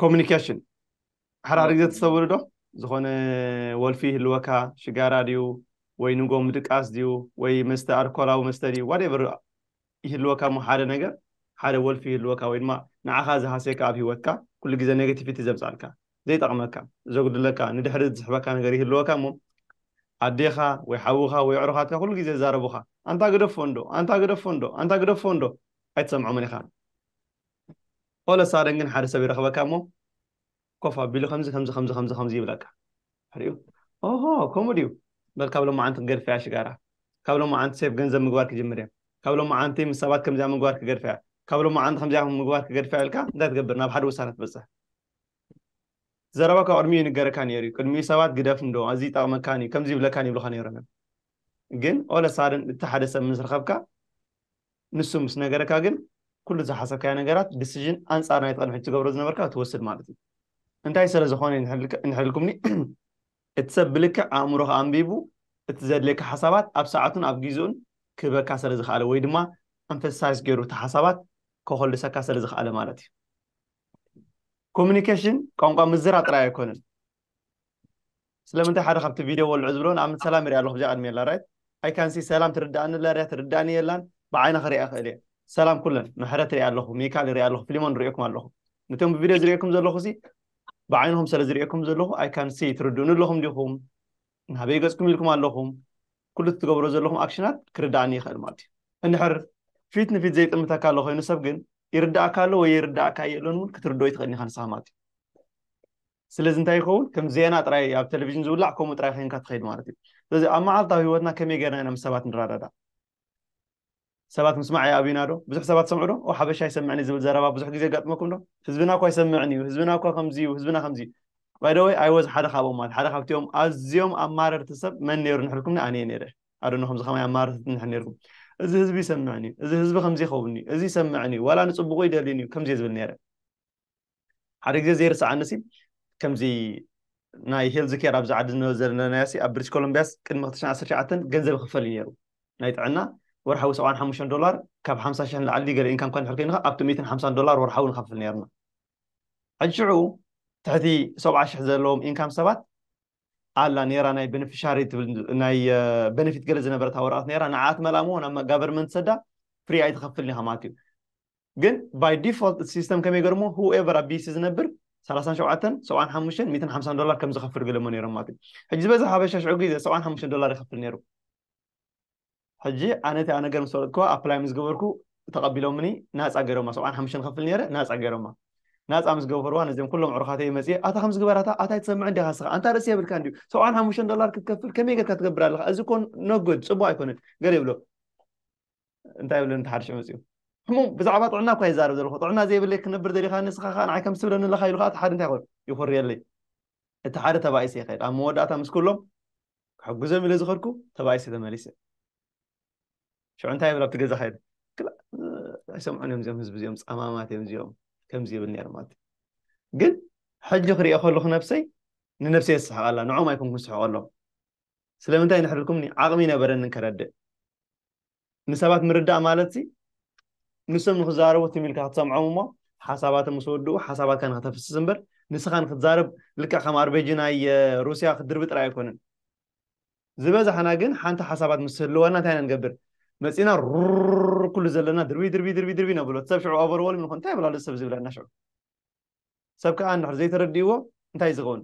ኮሚኒኬሽን ሓራሪ ግዜ ተስተውዕሉ ዶ ዝኾነ ወልፊ ይህልወካ ሽጋራ ድዩ ወይ ንጎ ምድቃስ ድዩ ወይ መስተ ኣልኮላዊ መስተ ድዩ ዋደቨር ይህልወካ እሞ ሓደ ነገር ሓደ ወልፊ ይህልወካ ወይ ድማ ንዓኻ ዝሃሰየካ ኣብ ሂወትካ ኩሉ ግዜ ኔጋቲቪቲ ዘምፃልካ ዘይጠቕመካ ዘጉድለካ ንድሕሪ ዝስሕበካ ነገር ይህልወካ እሞ ኣዴኻ ወይ ሓውኻ ወይ ኣዕሩኻትካ ኩሉ ግዜ ዛረቡኻ ኣንታ ግደፎ እንዶ ኣንታ ግደፎ እንዶ ኣንታ ግደፎ እንዶ ኣይትሰምዖምን ኢኻ all a sudden ግን ሓደ ሰብ ይረኽበካ እሞ ኮፍ ኣቢሉ ከምዚ ከምዚ ከምዚ ከምዚ ከምዚ ይብለካ ድሕሪኡ ኦሆ ከምኡ ድዩ በል ካብ ሎማዓንቲ ክገድፈ እያ ሽጋራ ካብ ሎማዓንቲ ሴፍ ገንዘብ ምግባር ክጅምር እየ ካብ ሎማዓንቲ ምስ ሰባት ከምዚኣ ምግባር ክገድፈ እያ ካብ ሎማዓንቲ ከምዚኣ ምግባር ክገድፈ እያ ኢልካ እንታይ ትገብር ናብ ሓደ ውሳነ ትበፅሕ ዘረባካ ቅድሚኡ ይንገረካ ነይሩ እዩ ቅድሚኡ ሰባት ግደፍ እንዶ ኣዚ ይጠቕመካን እዩ ከምዚ ይብለካን ይብልካ ነይሮም እዮም ግን ኦለሳድን እቲ ሓደ ሰብ ምስ ረኸብካ ንሱ ምስ ነገረካ ግን ኩሉ ዝሓሰብካዮ ነገራት decision ኣንጻር ናይቲ ቅድሚ ሕጂ ትገብሮ ዝነበርካ ትወስድ ማለት እዩ። እንታይ ሰለ ዝኾነ እንሕልኩምኒ እቲ ሰብ ብልክዕ ኣእምሮኻ ኣንቢቡ እቲ ዘድልየካ ሓሳባት ኣብ ሰዓቱን ኣብ ጊዝኡን ክህበካ ሰለ ዝኸኣለ ወይ ድማ emphasize ጌሩ እቲ ሓሳባት ከኾልሰካ ሰለ ዝኸኣለ ማለት እዩ። Communication ቋንቋ ምዝራብ ጥራይ ኣይኮነን ስለምንታይ ሓደ ካብቲ ቪድዮ ወልዑ ዝብሎ ንኣብነት ሰላም ይሪኣ ኣለኹ ብዚኣ ቅድሚ የላ ራይት ኣይ ካን ሲ ሰላም ትርድኣኒ ኣላ ሪያ ትርድኣኒ የላን ብዓይና ክሪኣ ክእል እየ ሰላም ኩለን ምሕረት ሪኣ ኣለኹ ሚካል ሪኣ ኣለኹ ፍሊሞን ሪእኩም ኣለኹ ነቶም ብቪድዮ ዝሪእኩም ዘለኹ ሲ ብዓይንኹም ስለ ዝሪእኩም ዘለኹ ኣይ ካን ሲ ትርድኡኒ ኣለኹም ዲኹም ናበይ ገፅኩም ኢልኩም ኣለኹም ኩሉ ትገብሮ ዘለኹም ኣክሽናት ክርድኣኒ ይኽእል ማለት እዩ እንድሕር ፊት ንፊት ዘይጥምተካ ኣሎ ኮይኑ ሰብ ግን ይርዳእካ ኣሎ ወይ ይርዳእካ የለን እውን ክትርድኦ ይትኽእል ኢኻ ንስኻ ማለት እዩ ስለዚ እንታይ ይኸውን ከም ዜና ጥራይ ኣብ ቴሌቪዥን ዝውላዕ ከምኡ ጥራይ ኮይንካ ትኸይድ ማለት እዩ ስለዚ ኣብ መዓልታዊ ህይወትና ከመይ ጌርና ኢና ምስ ሰባት ንረዳዳእ ሰባት ምስማዕ ይኣብዩና ዶ ብዙሕ ሰባት ሰምዑ ዶ ኦ ሓበሻ ይሰምዕን እዩ ዝብል ዘረባ ብዙሕ ግዜ ገጥመኩም ዶ ህዝብና እኳ ይሰምዕን እዩ ህዝብና እኳ ከምዚ እዩ ህዝብና ከምዚ እዩ ባይደወይ ኣይወዝ ሓደ ካብኦም ማለት ሓደ ካብቲኦም ኣዝዮም ኣማረርቲ ሰብ መን ነይሩ ንሕልኩምኒ ኣነ እየ ነይረ ኣደኖ ከምዚ ከማይ ኣማረርቲ ንሕ ነይርኩም እዚ ህዝቢ ይሰምዕን እዩ እዚ ህዝቢ ከምዚ ይኸውን እዩ እዚ ይሰምዕን እዩ ዋላ ንፅቡቁ ይደልዩን እዩ ከምዚ ዝብል ነይረ ሓደ ግዜ ዘይርስዓኒ ሲ ከምዚ ናይ ሄልዝ ኬር ኣብዚ ዓዲ ዝነበ ዘለና ሲ ኣብ ብሪቲሽ ኮሎምቢያስ ቅድሚ 2019 ገንዘብ ይኽፈል እዩ ነይሩ ናይ ጥዕና ወርሓዊ 75 ዶላር ካብ 50 ሽሕ ንላዕሊ ገለ ኢንካም ኳን ሕርክይንኻ ኣብቲ 150 ዶላር ወርሓዊ ንኸፍል ነይርና ሕጂ ሽዑ ትሕቲ 70 ሽሕ ዘለዎም ኢንካም ሰባት ኣላ ነይራ ናይ ቤኔፊሻሪ ትብል ናይ ቤኔፊት ገለ ዝነበረታ ወረቐት ነይራ ንዓት መላሞ ናብ ጋቨርመንት ሰዳ ፍሪ ኣይትኸፍልን ኢኻ ማለት እዩ ግን ባይ ዲፎልት እቲ ሲስተም ከመይ ገርሞ ሁኤቨር ኣብ ዲሲ ዝነብር ሰላሳን ሸውዓተን ሰብዓን ሓሙሽተን ሚትን ሓምሳን ዶላር ከም ዝኸፍል ገለሞ ነይሮም ማለት እዩ ሕጂ ዝበዝሕ ሓበሻ ሽዑ ግዜ ሰብዓን ሓሙሽተን ዶላር ይኸፍል ነይሩ ሕጂ ኣነ እቲ ነገር ምስ ፈለጥኩ ኣፕላይ ምስ ገበርኩ ተቐቢሎምኒ ናፃ ገይሮማ ሰብዓን ሓሙሽተን ኸፍል ነይረ ናፃ ገይሮማ ናፃ ምስ ገበርዋ ነዚኦም ኩሎም ዕሩኻተይ መፅየ ኣታ ከምዚ ግበራታ ኣታ ኣይትሰምዕ እንዲኻ ስኻ ኣንታ ርእሲ የብልካ እንዲዩ ሰብዓን ሓሙሽተን ዶላር ክትከፍል ከመይ ጌርካ ትገብር ኣለኻ እዚ ኮ ነጎድ ፅቡቅ ኣይኮነን ገለ ይብሎ እንታይ ይብለኒ እቲ ሓድሽ መፅኡ ሕሙም ብዛዕባ ጥዕና እኳ ይዛረብ ዘለኹ ጥዕና ዘይብለይ ክነብር ደሊኻ ንስኻ ከዓ ንዓይ ከም ትብለኒ ኣለኻ ኢሉ ከዓ እቲ ሓደ እንታይ ይኮን ይኹርየለይ እቲ ሓደ ተባኢሰ ይኸይድ ኣብ መወዳእታ ምስ ኩሎም ክሕግዞም ኢለ ዝኸድኩ ተባኢሰ ተመሊሰ ሽዑ እንታይ ይብል ኣብቲ ገዛ ከይደ ኣይሰምዑን እዮም እዚኦም ህዝቢ እዚኦም ፀማማት እዮም እዚኦም ከምዚ ይብል ነይሩ ማለት እዩ ግን ሕጂ ክሪኦ ከለኹ ነብሰይ ንነብሰይ የስሕቐላ ንዖም ኣይኮንኩን ስሕቐሎም ስለምንታይ ንሕድርኩምኒ ዓቕሚ ነበረኒ ከረድእ ንሰባት ምርዳእ ማለትሲ ንሶም ንክዛረቡ ትም ኢልካ ክትሰምዖም እሞ ሓሳባቶም ምስ ወድኡ ሓሳባትካ ንክተፍስስ እምበር ንስኻ ንክትዛረብ ልክዕ ከም ኣርቤጂ ናይ ሩስያ ክትድርቢ ጥራይ ኣይኮነን ዝበዛሕና ግን ሓንቲ ሓሳባት ምስ ህልወና እንታይ ኢና ንገብር መፂና ሩር ኩሉ ዘለና ድርቢ ድርቢ ድርቢ ድርቢ ነብሎ ሰብ ሽዑ ኦቨርወልም ንኾን እንታይ ብላሉ ሰብ ዝብለና ሽዑ ሰብ ከዓ እንድሕር ዘይተረድእዎ እንታይ ዝኸውን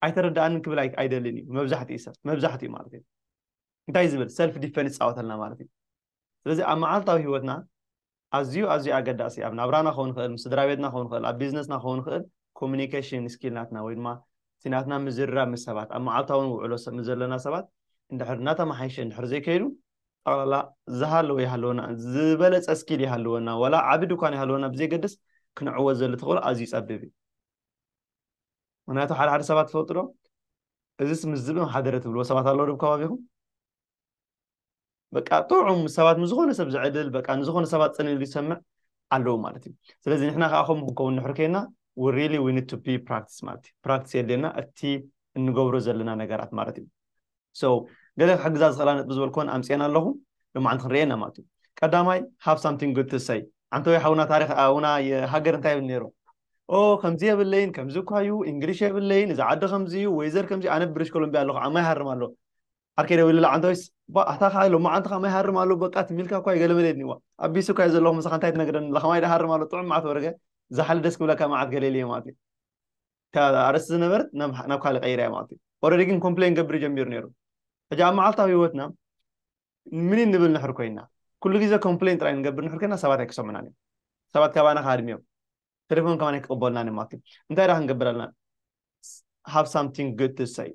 ኣይተረድኣንን ክብል ኣይደልን እዩ መብዛሕትኡ ሰብ መብዛሕትኡ ማለት እዩ እንታይ ዝብል ሰልፍ ዲፈንስ ይጻወተልና ማለት እዩ ስለዚ ኣብ መዓልታዊ ህይወትና ኣዝዩ ኣዝዩ ኣገዳሲ ኣብ ናብራና ክኸውን ይኽእል ምስ ስድራ ቤትና ክኸውን ይኽእል ኣብ ቢዝነስና ክኸውን ይኽእል ኮሚኒኬሽን ስኪል ናትና ወይ ድማ እቲ ናትና ምዝርራብ ምስ ሰባት ኣብ መዓልታዊ ውዕሎ ምስ ዘለና ሰባት እንድሕር እናተመሓይሸ እንድሕር ዘይከይዱ ጠቕላላ ዝሃለወ ይሃለወና ዝበለፀ ስኪል ይሃለወና ዋላ ዓቢ ድኳን ይሃለወና ብዘይገድስ ክንዕወት ዘሎ ተኽእሎ ኣዝዩ ፀቢብ እዩ ምክንያቱ ሓደ ሓደ ሰባት ትፈልጡ ዶ እዚስ ምስ ዝብም ሓደረ ትብልዎ ሰባት ኣለዉ ዶ ከባቢኹም በቃ ጥዑም ሰባት ንዝኾነ ሰብ ዝዕድል በቃ ንዝኾነ ሰባት ፅን ኢሉ ይሰምዕ ኣለዉ ማለት እዩ ስለዚ ንሕና ከዓ ከምኡ ክንከውን ንሕር ከይና ሪሊ ዊ ኒድ ቱ ቢ ፕራክቲስ ማለት እዩ ፕራክቲስ የድልየና እቲ እንገብሮ ዘለና ነገራት ማለት እዩ ገለ ክሕግዛ ዝኽእላ ነጥቢ ዝበልክወን ኣምጺኤን ኣለኹ ሎማዓንቲ ክንርእየን ኢና ማለት እዩ ቀዳማይ ሃቭ ሳምቲንግ ጉድ ቱ ሰይ ዓንተወይ ሓውና ታሪኽ ኣውና ሃገር እንታይ ይብል ነይሩ ኦ ከምዚ የብለይን ከምዚ እኳ እዩ እንግሊሽ የብለይን እዚ ዓዲ ከምዚ እዩ ወይዘር ከምዚ ኣነ ብሪሽ ኮሎምቢያ ኣለኹ ዓማ ይሃርም ኣሎ ዓርከ ደው ኢሉላ ዓንተወይስ ኣታ ከዓ ሎማዓንቲ ከማ ይሃርም ኣሎ በቃ ትሚልካ እኳ እዩ ገለመለ የድኒዋ ኣቢሱ እኳ እዩ ዘለኹ ምሳኻ እንታይ ትነግረኒ ለኸማ ይደሃርም ኣሎ ጥዑም መዓት ወርገ ዛሓሊ ደስ ክብለካ መዓት ገሌልየ ማለት እዩ ኣርእስቲ ዝነበረት ናብ ካልእ ቀይረያ ማለት እዩ ኦረዲ ግን ኮምፕሌን ገብር ጀሚሩ ነይሩ ሕጂ ኣብ መዓልታዊ ህይወትና ምን ንብል ንሕር ኮይና ኩሉ ግዜ ኮምፕሌን ጥራይ ንገብር ንሕር ኮይና ሰባት ኣይክሰሙናን እዮም ሰባት ካባና ካድሚዮም ቴሌፎን ከማን ኣይክቕበሉናን እዮም ማለት እዩ እንታይ ዳ ክንገብር ኣለና ሃብ ሳምቲንግ ግድ ትሰይ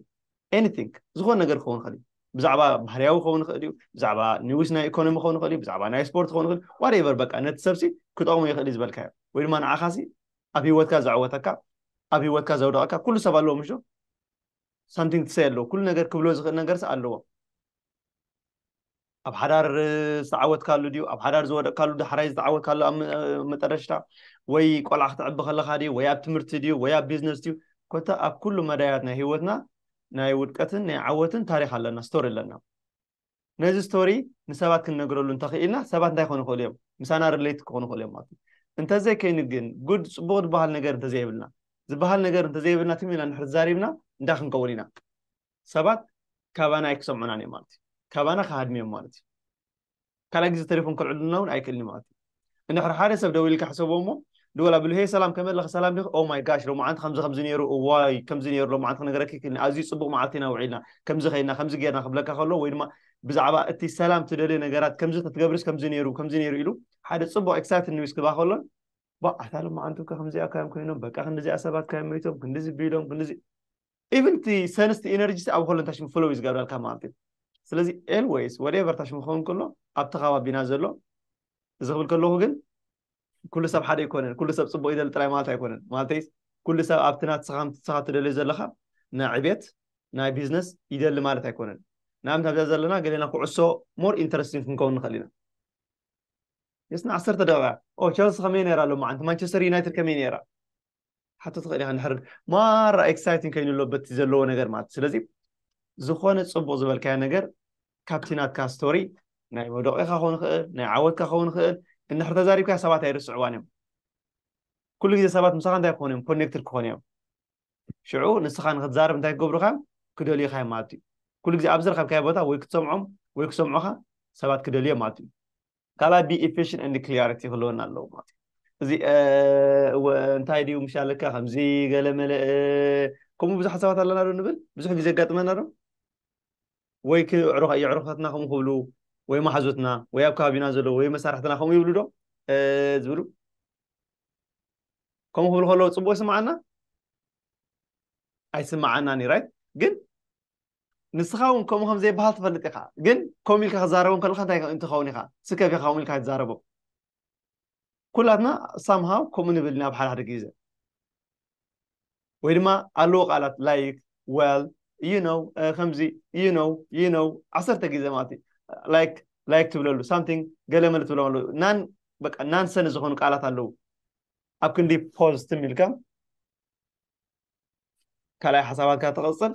ኤኒቲንግ ዝኾነ ነገር ክኸውን ይኽእል እዩ ብዛዕባ ባህርያዊ ክኸውን ይኽእል እዩ ብዛዕባ ኒውስ ናይ ኢኮኖሚ ክኸውን ይኽእል እዩ ብዛዕባ ናይ ስፖርት ክኸውን ይኽእል ዋሬቨር በቃ ነቲ ሰብሲ ክጠቕሙ ይኽእል እዩ ዝበልካዮ ወይ ድማ ንዓኻሲ ኣብ ሂወትካ ዘዕወተካ ኣብ ሂወትካ ዘውደቀካ ኩሉ ሰብ ኣለዎ ምሹ ሳምቲንግ ትሰይ ኣለዎ ኩሉ ነገር ክብሎ ዝኽእል ነገርስ ኣለዎ ኣብ ሓዳር ዝተዓወትካሉ ድዩ ኣብ ሓዳር ዝወደቅካሉ ዳሕራይ ዝተዓወትካሉ ኣብ መጠረሽታ ወይ ቆልዓ ክትዕቢ ከለካ ድዩ ወይ ኣብ ትምህርቲ ድዩ ወይ ኣብ ቢዝነስ ድዩ ኮታ ኣብ ኩሉ መዳያት ናይ ሂወትና ናይ ውድቀትን ናይ ዓወትን ታሪክ ኣለና ስቶሪ ኣለና ነዚ ስቶሪ ንሰባት ክንነግረሉ እንተኽኢልና ሰባት እንታይ ክኾኑ ይኽእሉ እዮም? ምሳና ርሌት ክኾኑ ይኽእሉ እዮም ማለት እዩ። እንተዘይከይኑ ግን ጉድ ፅቡቕ ዝበሃል ነገር እንተዘይብልና ዝበሃል ነገር እንተዘይብልና ትም ኢልና እንድሕር ተዛሪብና እንታይ ክንከውን ኢና? ሰባት ካባና ኣይክሰምዑናን እዮም ማለት እዩ። ካባና ክሃድሙ እዮም ማለት እዩ። ካልኣይ ግዜ ተሌፎን ከልዕሉልና እውን ኣይክእልን እዩ ማለት እዩ። እንድሕር ሓደ ሰብ ደዊልካ ሕሰቦ እሞ ድወላ ብሉ ሄይ ሰላም ከመይ ኣለኺ ሰላም ዲኺ ኦ ማይ ጋሽ ሎማዓንቲ ከምዚ ከምዚ ነይሩ እዋይ ከምዚ ነይሩ ሎማዓንቲ ክነግረኪ ክኒ ኣዝዩ ጽቡቕ መዓልቲ ኢና ውዒልና ከምዚ ከይና ከምዚ ጌርና ክብለካ ከሎ ወይ ድማ ብዛዕባ እቲ ሰላም ትደልዮ ነገራት ከምዚ ተትገብርስ ከምዚ ነይሩ ከምዚ ነይሩ ኢሉ ሓደ ጽቡቕ ኤክሳይትድ ኒውስ ክባ ከሎን ባዕ ኣታ ሎማዓንቲ እኮ ከምዚኣ ካዮም ኮይኖም በቃ ክንዲዚኣ ሰባት ካዮም መይቶም ክንዲዚ ቢሎም ክንዲዚ ኢቭን እቲ ሰንስቲ ኤነርጂሲ ኣብ ኮለን ታሽሙ ፍሎው እዩ ዝገብረልካ ማለት እዩ ስለዚ ኤልወይስ ወደቨር ታሽሙ ክኸውን ከሎ ኣብቲ ከባቢና ዘሎ እዚ ክብል ከለኹ ግን ኩሉ ሰብ ሓደ ኣይኮነን ኩሉ ሰብ ፅቡቅ ይደሊ ጥራይ ማለት ኣይኮነን ማለተይስ ኩሉ ሰብ ኣብቲ ናትስኻ ንስኻ ትደልዮ ዘለኻ ናይ ዕቤት ናይ ቢዝነስ ይደሊ ማለት ኣይኮነን ንኣብነት ኣብዛ ዘለና ገሌና ኩዕሶ ሞር ኢንተረስቲንግ ክንከውን ንኽእል ኢና የስና ዓሰርተ ደቂቃ ኦ ቸልሲ ከመይ ነይራ ሎማዓንቲ ማንቸስተር ዩናይትድ ከመይ ነይራ ሓቶ ትኽእል ኢኻ ንሕርድ ማራ ኤክሳይቲንግ ከይኑ ኣሎ በቲ ዘለዎ ነገር ማለት ስለዚ ዝኾነ ፅቡቕ ዝበልካዮ ነገር ካብቲ ናትካ ስቶሪ ናይ መውደቂኻ ክኸውን ይኽእል ናይ ዓወትካ ክኸውን ይኽእል እንድሕር ተዛሪብካ ሰባት ኣይርስዕዋን እዮም ኩሉ ግዜ ሰባት ምሳኻ እንታይ ክኾኑ እዮም ኮኔክትድ ክኾኑ እዮም ሽዑ ንስኻ ንክትዛረብ እንታይ ክገብሩኻ ክደልዩኻ እዮም ማለት እዩ ኩሉ ግዜ ኣብ ዝረኸብካዮ ቦታ ወይ ክትሰምዖም ወይ ክሰምዑኻ ሰባት ክደልዮም ማለት እዩ ካልኣይ ቢ ኤፊሽን ኤንድ ክሊያሪቲ ክህልወና ኣለዎ ማለት እዩ እዚ እንታይ ድዩ ምሽ ኣለካ ከምዚ ገለ መለ ከምኡ ብዙሕ ሓሳባት ኣለና ዶ ንብል ብዙሕ ግዜ ኣጋጥመና ዶ ወይ የዕሩኻትና ከምኡ ክብሉ ወይ ማሓዙትና ወይ ኣብ ከባቢና ዘለዎ ወይ መሳርሕትና ከምኡ ይብሉ ዶ ዝብሉ ከምኡ ክብሉ ከለዎ ፅቡቅ ይስምዓና ኣይስምዓናን እዩ ራይት ግን ንስኻ እውን ከምኡ ከም ዘይበሃል ትፈልጥ ኢኻ ግን ከምኡ ኢልካ ክዛረቦም ከለካ እንታይ እንትኸውን ኢኻ ስከፍ ኢኻ ከምኡ ኢልካ ትዛረቦም ኩላትና ሳምሃው ከምኡ ንብል ናብ ሓደ ሓደ ግዜ ወይ ድማ ኣለዎ ቃላት ላይክ ወል ዩ ነው ከምዚ ዩ ነው ዩ ነው ዓሰርተ ግዜ ማለት እዩ ላይክ ላይክ ትብለሉ ሳምቲንግ ገለ መለ ትብሎም ኣለዉ ናን በቃ ናንሰን ዝኾኑ ቃላት ኣለዉ ኣብ ክንዲ ፖዝ ትም ኢልካ ካልኣይ ሓሳባትካ ትቕፅል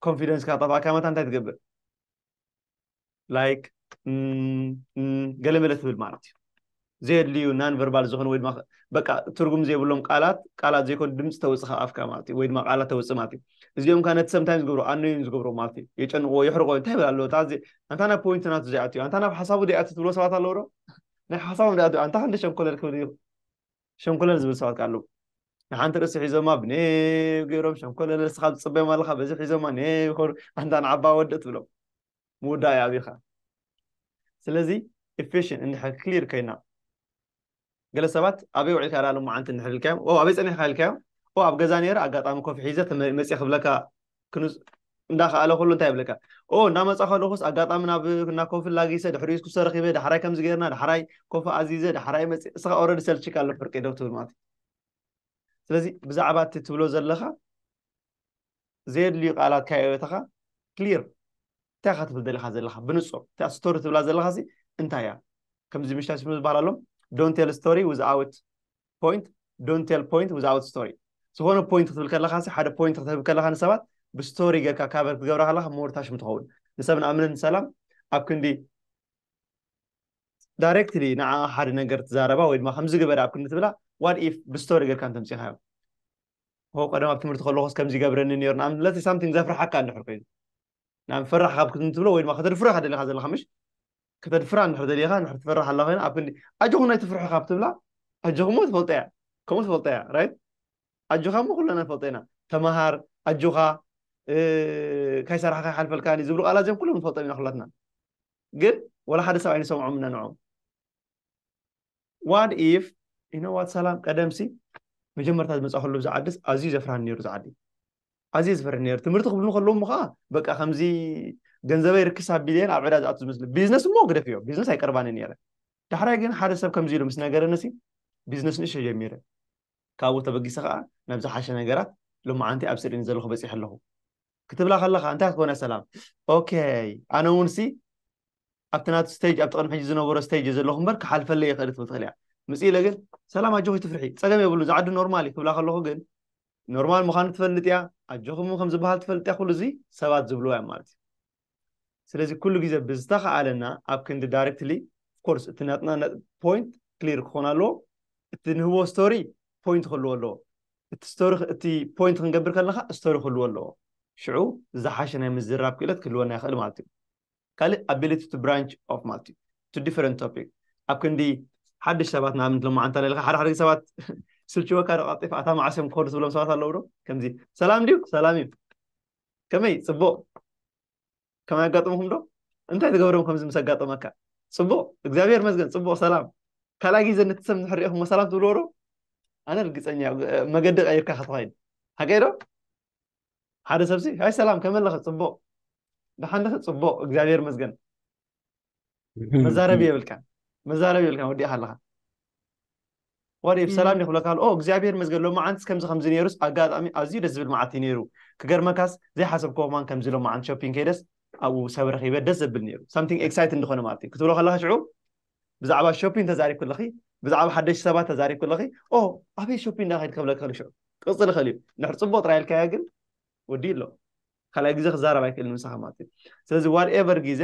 ኮንፊደንስካ ጠፋእካ መታ እንታይ ትገብር ላይክ ገለ መለ ትብል ማለት እዩ ዘየድልዩ ናን ቨርባል ዝኾኑ ወይ ድማ በቃ ትርጉም ዘይብሎም ቃላት ቃላት ዘይኮኑ ድምፂ ተውፅእ ካብ ኣፍካ ማለት እዩ ወይ ድማ ቃላት ተውፅእ ማለት እዩ እዚኦም ከዓ ነቲ ሰምታይ ዝገብሩ ኣነዩ ዝገብሩ ማለት እዩ የጨንቕዎ የሕርቆ እንታይ ይብል ኣለዎ ኣንታ ናብ ፖይንት ናቱ ዘይኣትዩ ኣንታ ናብ ሓሳቡ ዘይኣትዩ ትብሎ ሰባት ኣለዎ ዶ ናይ ሓሳቦም ዳኣ ኣንታ ክንዲ ሸንኮለል ክብል እዩ ሸንኮለል ዝብል ሰባት ካሉ ንሓንቲ ርእሲ ሒዞማ ብኔው ገይሮም ሸንኮለል ንስኻ ዝፅበዮም ኣለኻ በዚ ሒዞማ ኔው ይኸዱ ኣንታ ንዓባ ወድእ ትብሎም ምውዳእ እዩ ኣብኻ ስለዚ ኢፌሽን እንድሕር ክሊር ኮይና ገለ ሰባት ኣበይ ውዒልካ ዳ ሎማዓንቲ እንድሕር ኢልካዮም ኣበይ ፀኒሕካ ኢልካዮም ኣብ ገዛ ነይረ ኣጋጣሚ ኮፊ ሒዘ መፅየ ክብለካ እንዳኸኣለ ከሎ እንታይ ይብለካ ኦ እንዳመፃ ከለኹስ ኣጋጣሚ ናብ እና ኮፊ ላጊሰ ድሕሪኡ ኩሰ ረኪበ ዳሕራይ ከምዚ ገርና ዳሕራይ ኮፊ ኣዚዘ ዳሕራይ መፅ እስኻ ኦረዲ ሰልችካ ኣሎ ፍርቂ ዶ ትብል ማለት እዩ ስለዚ ብዛዕባ እቲ ትብሎ ዘለኻ ዘየድልዩ ቃላት ካየበተኻ ክሊር እንታይ ካ ትብል ደለካ ዘለካ ብንፁር እቲኣ ስቶሪ ትብላ ዘለካ ሲ እንታይ እያ ከምዚ ምሽታ ስሙ ዝበሃል ኣሎም ዶን ቴል ስቶሪ ዊዝኣውት ፖይንት ዶንት ቴል ፖይንት ዊዝኣውት ስቶሪ ዝኾነ ፖይንት ክትብል ከለካ ሓደ ፖይንት ክትህብ ከለካ ንሰባት ብስቶሪ ጌርካ ካበር ክትገብራ ከለካ ሞርታሽም ትኸውን ንሰብ ንኣምንን ሰላም ኣብ ክንዲ ዳይሬክትሊ ንዓ ሓደ ነገር ትዛረባ ወይ ድማ ከምዚ ግበረ ኣብ ክንዲ ትብላ ዋት ኢፍ ብስቶሪ ጌርካ እንተምፂኻዮ ሆ ቀደም ኣብ ትምህርቲ ከለኩስ ከምዚ ይገብረኒ ነይሩ ንኣብነት ሳምቲንግ ዘፍርሓካ እንድሕር ኮይኑ ናብ ፈራሕ ካብ ክትንትብሎ ወይ ድማ ከተድፍሮ ኢኻ ደሊኻ ዘለኻ ምሽ ከተድፍራ እንድሕር ደሊኻ እንድሕር ትፈራሕ ኣላ ኮይና ኣብ ክንዲ ኣጆኹም ናይ ትፍርሑ ካብ ትብላ ኣጆኹም እሞ ትፈልጦ እያ ከምኡ ትፈልጦ እያ ራይት ኣጆኻ እሞ ኩለና ንፈልጦ ኢና ተምሃር ኣጆኻ ካይሰራሕካ ይሓልፈልካኒ ዝብሉ ቃላት እዚኦም ኩሎም ንፈልጦም ኢና ኩላትና ግን ወላ ሓደ ሰብ ኣይንሰምዖም እና ንዖም ዋት ኢፍ ዩ ኖ ዋት ሰላም ቀደምሲ መጀመርታ ዝመፃእክሉ ብዛ ዓድስ ኣዝዩ ዘፍርሃኒ ነይሩ ዝዓዲ ኣዝየ ዝፈርህ ነይሩ ትምህርቲ ክብሉ ከለዉ እሞ ከዓ በቃ ከምዚ ገንዘበይ ርክስ ኣቢለየን ኣብ ዕዳ ዝኣቱ ዝመስሉ ቢዝነስ እሞ ግደፍ እዮ ቢዝነስ ኣይቀርባኒ ነይረ ዳሕራይ ግን ሓደ ሰብ ከምዚ ኢሉ ምስ ነገረንሲ ቢዝነስ ንእሽቶ ጀሚረ ካብኡ ተበጊሰ ከዓ ናብ ዝሓሸ ነገራት ሎማዓንቲ ኣብ ስሪኒ ዘለኹ በፂሐ ኣለኹ ክትብላ ከለካ እንታይ ክትኮነ ሰላም ኦከይ ኣነ እውን ሲ ኣብቲ ናቱ ስቴጅ ኣብቲ ቅድሚ ሕጂ ዝነበሮ ስቴጅ ዘለኹ እምበር ክሓልፈለይ ይኽእል ትብል ትኽእል እያ ምፅ ኢለ ግን ሰላም ኣጆኺ ትፍርሒ ፀገም የብሉ ዝዓዲ ኖርማል እዩ ክብላ ከለኹ ግን ኖርማል ምዃኑ ትፈልጥ እያ ኣጆኹም ከም ዝበሃል ትፈልጥ እያ ኩሉ እዚ ሰባት ዝብልዎ እዮም ማለት እዩ ስለዚ ኩሉ ግዜ ብዝተኸኣለና ኣብ ክንዲ ዳይሬክትሊ ኦፍኮርስ እቲ ናትና ነጥቢ ፖይንት ክሊር ክኾን ኣለዎ እቲ ንህቦ ስቶሪ ፖይንት ክህልዎ ኣለዎ እቲ ስቶሪ እቲ ፖይንት ክንገብር ከለካ ስቶሪ ክህልዎ ኣለዎ ሽዑ ዝሓሸ ናይ ምዝራብ ክእለት ክህልወና ይኽእል ማለት እዩ ካልእ ኣቢሊቲ ቱ ብራንች ኦፍ ማለት እዩ ቱ ዲፈረንት ቶፒክ ኣብ ክንዲ ሓድሽ ሰባት ንኣብነት ሎማዓንቲ ኣለልካ ሓደ ሓደ ሰባት ስልችወካ ዶ ቀልጢፋ እታ መዓስ እዮም ክኸዱ ትብሎም ሰባት ኣለዉ ዶ ከምዚ ሰላም ድዩ ሰላም እዩ ከመይ ፅቡቅ ከመይ ኣጋጥምኩም ዶ እንታይ ዝገብርም ከምዚ ምስ ኣጋጠመካ ፅቡቅ እግዚኣብሔር መስገን ፅቡቅ ሰላም ካልኣይ ግዜ ነቲ ሰብ ንድሕር ሪኢኹሞ ሰላም ትብልዎ ዶ ኣነ ርግፀኛ መገዲ ቀይርካ ከተኸይድ ሓቀይ ዶ ሓደ ሰብሲ ኣይ ሰላም ከመለኸ ፅቡቅ ብሓንደኸ ፅቡቅ እግዚኣብሔር መስገን መዛረቢ የብልካን መዛረቢ የብልካን ወዲእካ ኣለካ ወዲ ሰላም ይክብለካ ኦ እግዚኣብሔር መስገን ሎማዓንቲ ከምዚ ከምዚ ነይሩስ ኣጋጣሚ ኣዝዩ ደስ ዝብል መዓልቲ ነይሩ ክገርመካስ ዘይሓሰብኮ ማን ከምዚ ሎማዓንቲ ሾፒንግ ከይደስ ኣብኡ ሰብ ረኪበ ደስ ዘብል ነይሩ ሳምቲንግ ኤክሳይት እንደኮነ ማለት እዩ ክትብሎ ከለካ ሽዑ ብዛዕባ ሾፒንግ ተዛሪብ ክለኺ ብዛዕባ ሓደሽቲ ሰባት ተዛሪብ ክለኺ ኦ ኣበይ ሾፒንግ ዳኸይድ ከብለካ ከሉ ሽዑ ቅፅል ይኽእል እዩ ንሕር ፅቡቅ ጥራይ ኢልካዮ ግን ወዲኡ ኣሎ ካልኣይ ግዜ ክዛረብ ኣይክእልን ምሳኻ ማለት እዩ ስለዚ ዋት ኤቨር ግዜ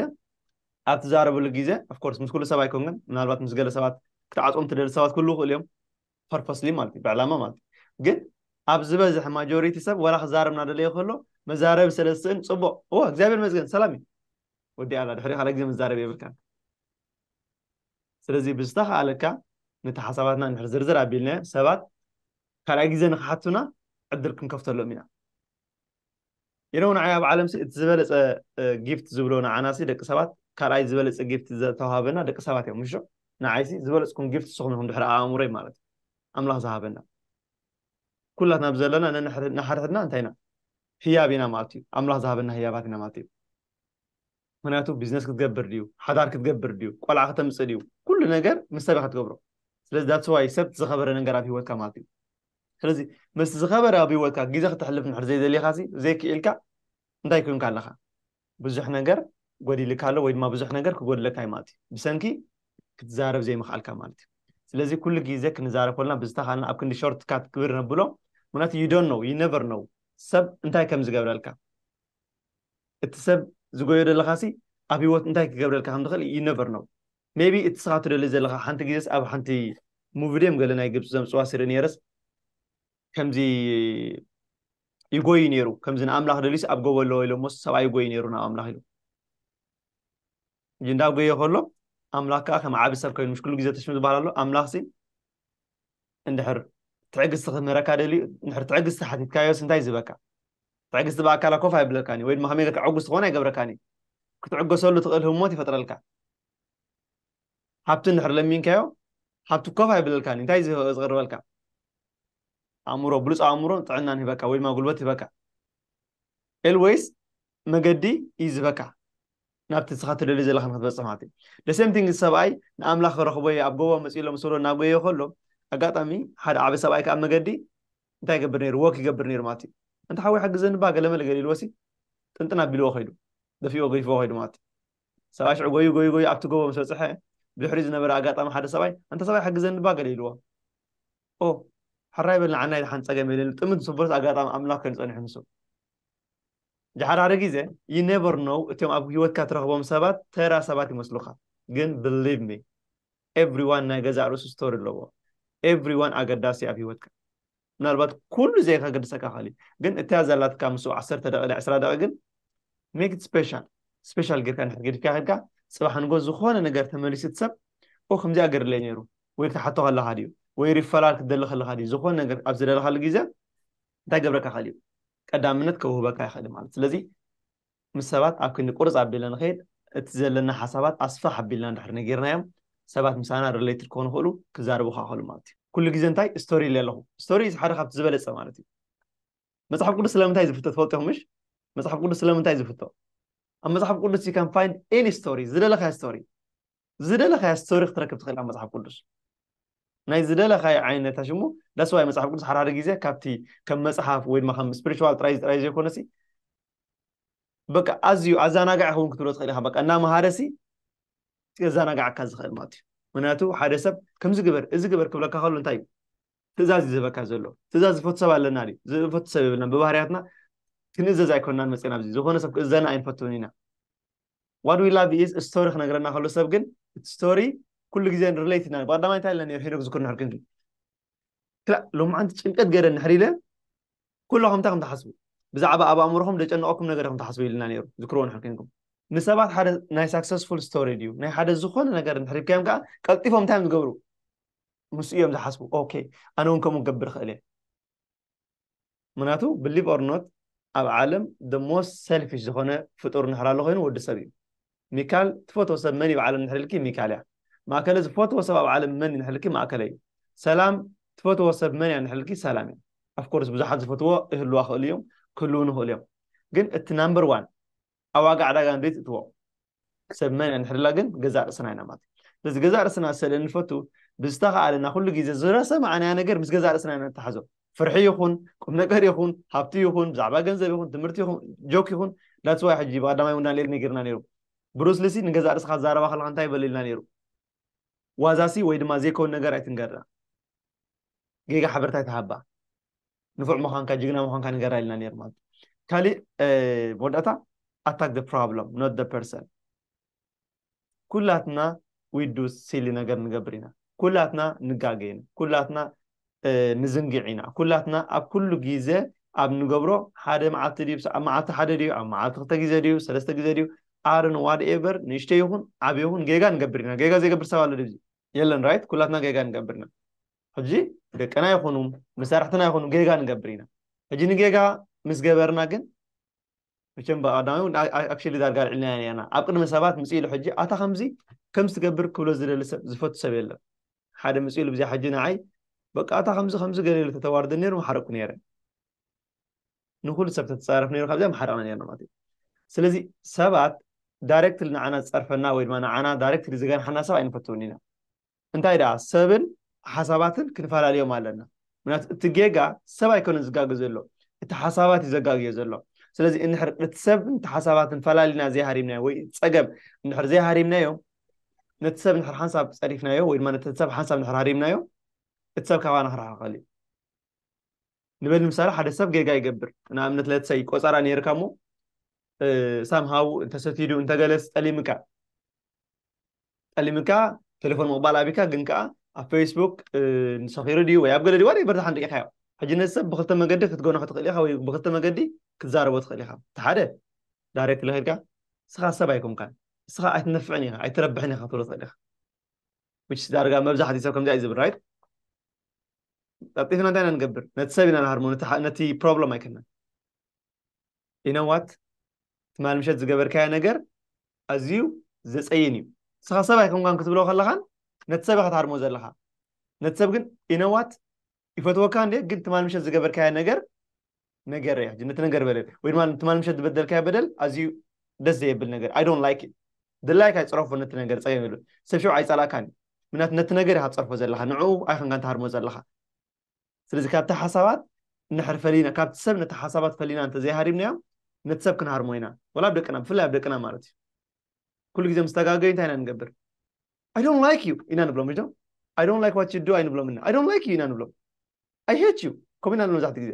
ኣብ ትዛረብሉ ግዜ ኣፍኮርስ ምስ ኩሉ ሰብ ኣይኮንክን ምናልባት ምስ ገለ ሰባት ክትዓፅኦም ትደሊ ሰባት ክህልው ይኽእሉ እዮም ፐርፐስሊ ማለት እዩ ብዕላማ ማለት እዩ ግን ኣብ ዝበዝሕ ማጆሪቲ ሰብ ወላ ክዛረብ እናደለየ ከሎ መዛረቢ ስለ ዝስእን ፅቡቅ እዎ እግዚኣብሔር መዝገን ሰላም እዩ ወዲ ኣላ ድሕሪ ካልኣይ ግዜ መዛረቢ የብልካን ስለዚ ብዝተኻኣለካ ነቲ ሓሳባትና እንድሕር ዝርዝር ኣቢልናዮ ሰባት ካልኣይ ግዜ ንክሓቱና ዕድል ክንከፍተሎም ኢና ኢነ ውን ንዓይ ኣብ ዓለም እቲ ዝበለፀ ጊፍት ዝብሎ ንዓና ሲ ደቂ ሰባት ካልኣይ ዝበለፀ ጊፍት ዝተዋሃበና ደቂ ሰባት እዮም ምሾ ንዓይ ሲ ዝበለፅኩም ጊፍት ንስኹም ኢኹም ድሕሪ ኣእምሮይ ማለት እዩ ኣምላኽ ዝሃበና ኩላትና ብዘለና ንሓድሕድና እንታይ ኢና ህያብ ኢና ማለት እዩ ኣምላኽ ዝሃበና ህያባት ኢና ማለት እዩ ምክንያቱ ቢዝነስ ክትገብር ድዩ ሓዳር ክትገብር ድዩ ቆልዓ ከተምፅእ ድዩ ኩሉ ነገር ምስ ሰብ ክትገብሮ ስለዚ ዳትስ ዋይ ሰብ ዝኸበረ ነገር ኣብ ሂወትካ ማለት እዩ ስለዚ ምስ ዝኸበረ ኣብ ሂወትካ ግዜ ክተሕልፍ ንድሕር ዘይደሊኻ ዘይክኢልካ እንታይ ኮይንካ ኣለኻ ብዙሕ ነገር ጎዲልካ ኣሎ ወይ ድማ ብዙሕ ነገር ክጎድለካ እዩ ማለት እዩ ብሰንኪ ክትዛረብ ዘይምኽኣልካ ማለት እዩ ስለዚ ኩሉ ግዜ ክንዛረብ ኮልና ብዝተኻልና ኣብ ክንዲ ሾርት ካት ክብር ነብሎ ምክንያቱ ዩ ዶን ኖው ዩ ነቨር ኖው ሰብ እንታይ ከም ዝገብረልካ እቲ ሰብ ዝጎዮ ዘለኻሲ ኣብ ህይወት እንታይ ክገብረልካ ከም ዝኽእል you never know maybe እቲ ንስኻ ትደልዮ ዘለኻ ሓንቲ ግዜስ ኣብ ሓንቲ ሙቪ ድዮም ገለ ናይ ግብጺ ዘምጽዋ ስርኢ ነይረስ ከምዚ ይጎይ ነይሩ ከምዚ ንኣምላኽ ደልዩስ ኣብ ጎቦ ኣለዎ ኢሎሞስ ሰብኣይ ይጎይ ነይሩ ናብ ኣምላኽ ኢሉ እንዳ ጎየ ከሎ ኣምላኽ ከዓ ከም ዓቢ ሰብ ኮይኑ ምሽ ኩሉ ግዜ ተሽም ዝበሃል ኣሎ ኣምላኽሲ እንድሕር ትዕግስቲ ክምህረካ ደልዩ እንድሕር ትዕግስቲ ሓቲትካዮስ እንታይ ዝበካ ትዕግስቲ ብኣካላ ኮፍ ኣይብለካን እዩ ወይ ድማ ከመይ ጌርካ ዕጉስ ትኾን ኣይገብረካን እዩ ክትዕገሰሉ ትኽእል ህሞት ይፈጥረልካ ሃብቲ እንድሕር ለሚንካዮ ሃብቲ ኮፍ ኣይብለልካን እዩ እንታይ ዝቕርበልካ ኣእምሮ ብሉፅ ኣእምሮን ጥዕናን ሂበካ ወይ ድማ ጉልበት ሂበካ ኤልወይስ መገዲ እዩ ዝበካ ናብቲ ንስኻ ትደልዮ ዘለኻ ንክትበፅሕ ማለት እዩ ደሴምቲንግ ሰብኣይ ንኣምላኽ ክረኽቦ እየ ኣብ ጎቦ መፅኡ ኢሎም ስሮ እናጎየዮ ከሎ ኣጋጣሚ ሓደ ዓበ ሰብኣይ ከዓ መገዲ እንታይ ይገብር ነይሩ ወክ ይገብር ነይሩ ማለት እዩ እንተ ሓወይ ሓግዘኒ ባ ገለመለ ገሊልዎ ሲ ጥንጥን ኣቢልዎ ከይዱ ደፊኦ ገይፍዎ ከይዱ ማለት እዩ ሰብኣይ ሽዑ ጎዩ ጎዩ ጎዩ ኣብቲ ጎቦ ምስ በፅሐ ብድሕሪ ዝነበረ ኣጋጣሚ ሓደ ሰብኣይ እንተ ሰብኣይ ሓግዘኒ ባ ገሊልዎ ኦ ሕራይ በልና ዓናይ ሓንቲ ፀገም የለን ጥምት ንስቦርስ ኣጋጣሚ ኣምላኽ ኮይኑ ፀኒሑ ንሱ ጃሓራሪ ግዜ you never know እትዮም ኣብ ሂወትካ ትረኽቦም ሰባት ተራ ሰባት ይመስሉኻ ግን believe me everyone ናይ ገዛእ ርእሱ story ኣለዎ everyone ኣገዳሲ ኣብ ሂወትካ ምናልባት ኩሉ ዘይከገድሰካ ይኽእል እዩ ግን እትያ ዘላትካ ምስኡ ዓሰርተ ደቂቅ ኢለ ዕስራ ደቂቅ ግን make it special special ጌርካ እንድሕር ገዲፍካ ከድካ ጽባሕ ንጎ ዝኾነ ነገር ተመሊሱ እቲ ሰብ ኦ ከምዚኣ ገርለይ ነይሩ ወይ ክትሓቶ ከለኻ ድዩ ወይ ሪፈራል ክትደሊ ከለኻ ድዩ ዝኾነ ነገር ኣብ ዝደለኻሉ ግዜ እንታይ ገብረካ ይኽእል እዩ ቀዳምነት ከውህበካ ይኽእል ማለት ስለዚ ምስ ሰባት ኣብ ክንዲ ቁርፅ ኣቢለ ንኸይድ እቲ ዘለና ሓሳባት ኣስፋሕ ኣቢልና እንድሕር ነጊርናዮም ሰባት ምሳና ሪሌትድ ክኾኑ ይኽእሉ ክዛረቡካ ይኽእሉ ማለት እዩ ኩሉ ግዜ እንታይ ስቶሪ ኢለ ኣለኹ ስቶሪ ሓደ ካብቲ ዝበለፀ ማለት እዩ መፅሓፍ ቅዱስ ስለምንታይ እዩ ዝፍቶ ትፈልጡ ኢኹም ምሽ መፅሓፍ ቅዱስ ስለምንታይ እዩ ዝፍቶ ኣብ መፅሓፍ ቅዱስ ዩ ካን ፋይንድ ኤኒ ስቶሪ ዝደለኻዮ ስቶሪ ዝደለኻያ ስቶሪ ክትረክብ ትኽእል ኣብ መጽሓፍ ቅዱስ ናይ ዝደለኻዮ ዓይነት ሽሙ ዳስዋይ መጽሓፍ ቅዱስ ሓድሓደ ግዜ ካብቲ ከም መጽሓፍ ወይ ድማ ከም ስፒሪቹዋል ጥራይ ጥራይ ዘይኮነሲ በቃ ኣዝዩ ኣዘናጋዒ ክውን ክትብሎ ትኽእል ኢኻ በቃ እናመሃረሲ የዘናጋዓካ ዝኽእል ማለት እዩ ምክንያቱ ሓደ ሰብ ከምዚ ግበር እዚ ግበር ክብለካ ከሎ እንታይ እዩ ትእዛዝ እዩ ዝበካ ዘሎ ትእዛዝ ዝፈቱ ሰብ ኣለና ድዩ ዝፈቱ ሰብ የብልና ብባህርያትና ክንእዘዝ ኣይኮናን መፅና ኣብዚ ዝኾነ ሰብ ክእዘና ኣይንፈትውን ኢና ዋት ዊ ላቭ ኢዝ ስቶሪ ክነግረና ከሎ ሰብ ግን እቲ ስቶሪ ኩሉ ግዜ ሪሌት ኢና ብቀዳማይ እንታይ ኢልና ነይሩ ሄኖክ ዝክር ንሕር ክንኪ ክላ ሎማዓንቲ ጭንቀት ገይረ ንሕር ኢለ ኩሉ ከምታ ከም ትሓስቡ ብዛዕባ ኣብ ኣእምሮኹም ዘጨነቐኩም ነገር ከም ትሓስቡ ኢልና ነይሩ ዝክርዎ ንሕር ክንኩም ንሰባት ሓደ ናይ ሳክሰስፉል ስቶሪ ድዩ ናይ ሓደ ዝኾነ ነገር ንሕሪብካዮም ከዓ ቀልጢፎም እንታይ እዮም ዝገብሩ ምስ እዮም ዝሓስቡ ኦኬ ኣነ እውን ከምኡ ክገብር ይኽእል እየ ምክንያቱ ብሊቭ ኦር ኖት ኣብ ዓለም the most selfish ዝኾነ ፍጡር ንሕር ኣሎ ኮይኑ ወዲ ሰብ እዩ ሚካል ትፈትዎ ሰብ መን እዩ ኣብ ዓለም ንሕር ኢልኪ ሚካል እያ ማእከለ ዝፈትዎ ሰብ ኣብ ዓለም መን እዩ ንሕር ኢልኪ ማእከለ እዩ ሰላም ትፈትዎ ሰብ መን እያ ንሕር ኢልኪ ሰላም እያ ኣፍኮርስ ብዙሓት ዝፈትዎ ይህልዋ ክእሉ እዮም ክህልውን ይኽእሉ እዮም ግን እቲ ናምበር ዋን ኣብ ዋጋ ዕዳጋ ንደይ ትእትዎ ሰብ መን እንሕድላ ግን ገዛእ ርእስና ኢና ማለት ስለዚ ገዛእ ርእስና ሰለ ንፈቱ ብዝተኸኣለና ኩሉ ግዜ ዝረሰማዕናያ ነገር ምስ ገዛእ ርእስና ኢና ንተሓዞ ፍርሒ ይኹን ቁም ነገር ይኹን ሃብቲ ይኹን ብዛዕባ ገንዘብ ይኹን ትምህርቲ ይኹን ጆክ ይኹን ዳትስዋይ ሕጂ ብቀዳማይ ውን ዳንኤል ነጊርና ነይሩ ብሩስሊሲ ንገዛእ ርእስኻ ዛረባ ከለካ እንታይ በለ ኢልና ነይሩ ዋዛሲ ወይ ድማ ዘይከውን ነገር ኣይትንገርና ጌጋ ሓበሬታ ኣይትሃባ ንፉዕ ምዃንካ ጅግና ምዃንካ ንገራ ኢልና ነይሩ ማለት ካሊእ መወዳእታ ኣታክ ደ ፕሮብሎም ኖት ደ ፐርሰን ኩላትና ዊዱ ሲሊ ነገር ንገብር ኢና ኩላትና ንጋገ ኢና ኩላትና ንዝንግዕ ኢና ኩላትና ኣብ ኩሉ ግዜ ኣብ ንገብሮ ሓደ መዓልቲ ድዩ ኣብ መዓልቲ ሓደ ድዩ ኣብ መዓልቲ ክልተ ግዜ ድዩ ሰለስተ ግዜ ድዩ ኣርን ዋድ ኤቨር ንእሽተ ይኹን ዓብ ይኹን ጌጋ ንገብር ኢና ጌጋ ዘይገብር ሰብ ኣሎ ድዚ የለን ራይት ኩላትና ጌጋ ንገብር ኢና ሕጂ ደቅና ይኹኑ መሳርሕትና ይኹኑ ጌጋ ንገብር ኢና ሕጂ ንጌጋ ምስ ገበርና ግን መቸም ብኣዳሚ ኣክሽሊ ዳርጋ ኣልዕልና ነርና ኣብ ቅድሚ ሰባት ምስ ኢሉ ሕጂ ኣታ ከምዚ ከም ዝትገብር ክብሎ ዝደሊ ሰብ ዝፈቱ ሰብ የለን ሓደ ምስ ኢሉ ብዚኣ ሕጂ ንዓይ በቃ ኣታ ከምዚ ከምዚ ገለ ኢሉ ተተዋርደ ነይሩ ምሓረቅኩ ነይረ ንኩሉ ሰብ ተተፃረፍ ነይሩ ካብዚኣ ምሓረቅና ነርና ማለት እዩ ስለዚ ሰባት ዳይሬክትሊ ንዓና ዝፀርፈና ወይ ድማ ንዓና ዳይሬክትሊ ዝገንሓና ሰብ ኣይንፈትውን ኢና እንታይ ደኣ ሰብን ሓሳባትን ክንፈላልዮም ኣለና ምክንያቱ እቲ ጌጋ ሰብ ኣይኮነን ዝጋገ ዘሎ እቲ ሓሳባት እዩ ዘጋግዮ ዘሎ ስለዚ እንድሕር ነቲ ሰብ ነቲ ሓሳባትን ፈላሊና ዘይሃሪምናዮ ወይ ፀገም እንድሕር ዘይሃሪምናዮ ነቲ ሰብ ንድሕር ሓንሳብ ፀሪፍናዮ ወይ ድማ ነቲ ሰብ ሓንሳብ ንድሕር ሃሪምናዮ እቲ ሰብ ካባና ክረሓቐል እዩ ንበል ንምሳሌ ሓደ ሰብ ጌጋ ይገብር ንኣብነት ለትሰይ ቆፀራ ነይርካ እሞ ሳምሃው እንተሰቲዱ እንተገለስ ጠሊምካ ጠሊምካ ቴሌፎን ምቕባል ኣብካ ግን ከዓ ኣብ ፌስቡክ ንሰኺሩ ድዩ ወይ ኣብ ገለ ድዩ ዋደ በርታ ሓንዲ ኢኻዮ ሕጂ ነዚ ሰብ ብክልተ መገዲ ክትገኖ ክትኽእል ኢኻ ወይ ብክልተ መገዲ ክትዛረቦ ትኽእል ኢኻ እቲ ሓደ ዳይሬክት ለኺድካ ንስኻ ሰብ ኣይኮንካን ንስኻ ኣይትነፍዕን ኢኻ ኣይትረብሕን ኢኻ ትብሎ ትኽእል ኢኻ ዳርጋ መብዛሕትኡ ሰብ ከምዚኣ እዩ ዝብል ራይት ቀልጢፍና እንታይ ኢና ንገብር ነቲ ሰብ ኢና ንሃርሞ ነቲ ፕሮብሎም ኣይኮናን ኢነዋት ትማል ምሸት ዝገበርካዮ ነገር ኣዝዩ ዘፀይን እዩ ንስኻ ሰብ ኣይኮንካን ክትብሎ ከለኻን ነቲ ሰብ ኢኻ ትሃርሞ ዘለኻ ነቲ ሰብ ግን ኢነዋት ይፈትወካ እንደ ግን ትማል ምሸት ዝገበርካዮ ነገር ነገር እያ ሕጂ ነቲ ነገር በለል ወይ ድማ ትማል ምሸት ዝበደልካዮ በደል ኣዝዩ ደስ ዘየብል ነገር ኣይ ዶንት ላይክ ድላይካ ይፅረፎ ነቲ ነገር ፀገም የብሉን ሰብ ሽዑ ኣይፀላእካን እዩ ምክንያቱ ነቲ ነገር ኢካ ትፀርፎ ዘለካ ንዕኡ ኣይኮንካ ትሃርሞ ዘለካ ስለዚ ካብቲ ሓሳባት ንድሕር ፈሊና ካብቲ ሰብ ነቲ ሓሳባት ፈሊና እንተዘይሃሪምናዮም ነቲ ሰብ ክንሃርሞ ኢና ወላ ኣብ ደቅና ብፍላይ ኣብ ደቅና ማለት እዩ ኩሉ ግዜ ምስ ተጋገዩ እንታይ ኢና ንገብር ኣይ ዶንት ላይክ ዩ ኢና ንብሎም ሪዶ ኣይ ዶንት ላይክ ዋት ዩ ዱ ኣይንብሎም እና ኣይ ዶንት ላይክ ዩ ኢና ንብሎም ኣይ ሄት ዩ ከምኡ ኢና ንብሎም መብዛሕትኡ ግዜ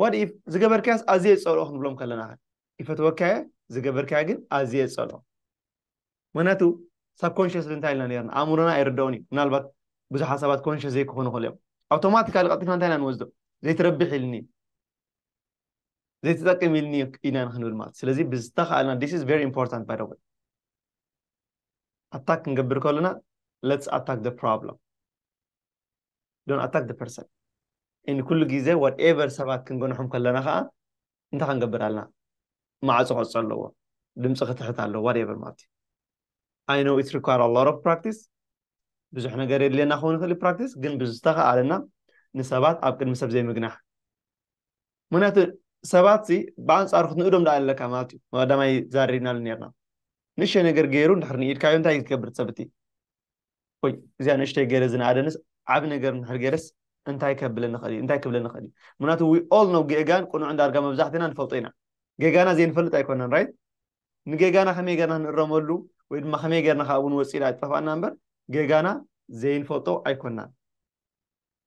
ዋት ኢፍ ዝገበርካያስ ኣዝየ ይጸልኦ ክንብሎም ከለና ኸ ይፈትወካየ ዝገበርካያ ግን ኣዝየ ይጸልኦ ምክንያቱ ሳብ ኮንሽስ እንታይ ኢልና ነርና ኣእምሮና ኣይርድኦን እዩ ምናልባት ብዙሕ ሓሳባት ኮንሽስ ዘይክኾኑ ክእሉ እዮም ኣውቶማቲካሊ ቀልጢፍና እንታይ ኢና ንወስዶ ዘይትረብሕ ኢልኒ ዘይትጠቅም ኢልኒ ኢና ክንብል ማለት ስለዚ ብዝተኻእልና ዲስ ኢዝ ቨሪ ኢምፖርታንት ባይ ኣታክ ክንገብር ከሎና ለትስ ኣታክ ዘ ፕሮብለም ዶን ኣታክ ዘ ፐርሰን እን ኩሉ ግዜ ዋት ኤቨር ሰባት ክንገንሖም ከለና ከዓ እንታይ ክንገብር ኣለና ማዕፆ ክዕፆ ኣለዎ ድምፂ ክትሕት ኣለዎ ዋት ኤቨር ማለት እዩ ኣይ ኖ ኢት ሪኳር ኣ ሎት ኦፍ ፕራክቲስ ብዙሕ ነገር የድልየና ክኸውን ይኽእል ፕራክቲስ ግን ብዝተኸኣለና ንሰባት ኣብ ቅድሚ ሰብ ዘይምግናሕ ምክንያቱ ሰባት ሲ ብኣንጻሩ ክትንእዶም ደኣ ኣለካ ማለት እዩ ቀዳማይ ዛሪብናሉ ነርና ንእሽተይ ነገር ገይሩ እንድሕር ንኢድካዮ እንታይ እዩ ትገብር ሰብ እቲ ወይ እዚኣ ንእሽተይ ገይረ ዝነኣደንስ ዓብ ነገር እንድሕር ገይረስ እንታይ ከብለ ንኽእል እዩ እንታይ ክብለ ንኽእል እዩ ምክንያቱ ዊ ኦል ነው ጌጋን ቁኑዕ ዳርጋ መብዛሕትና ንፈልጦ ኢና ጌጋና ዘይንፈልጥ ኣይኮነን ራይት ንጌጋና ከመይ ገርና ንእረመሉ ወይ ድማ ከመይ ገርና ካብኡ ንወፅእ ኢላ ኣይጠፋእና እምበር ጌጋና ዘይንፈልጦ ኣይኮናን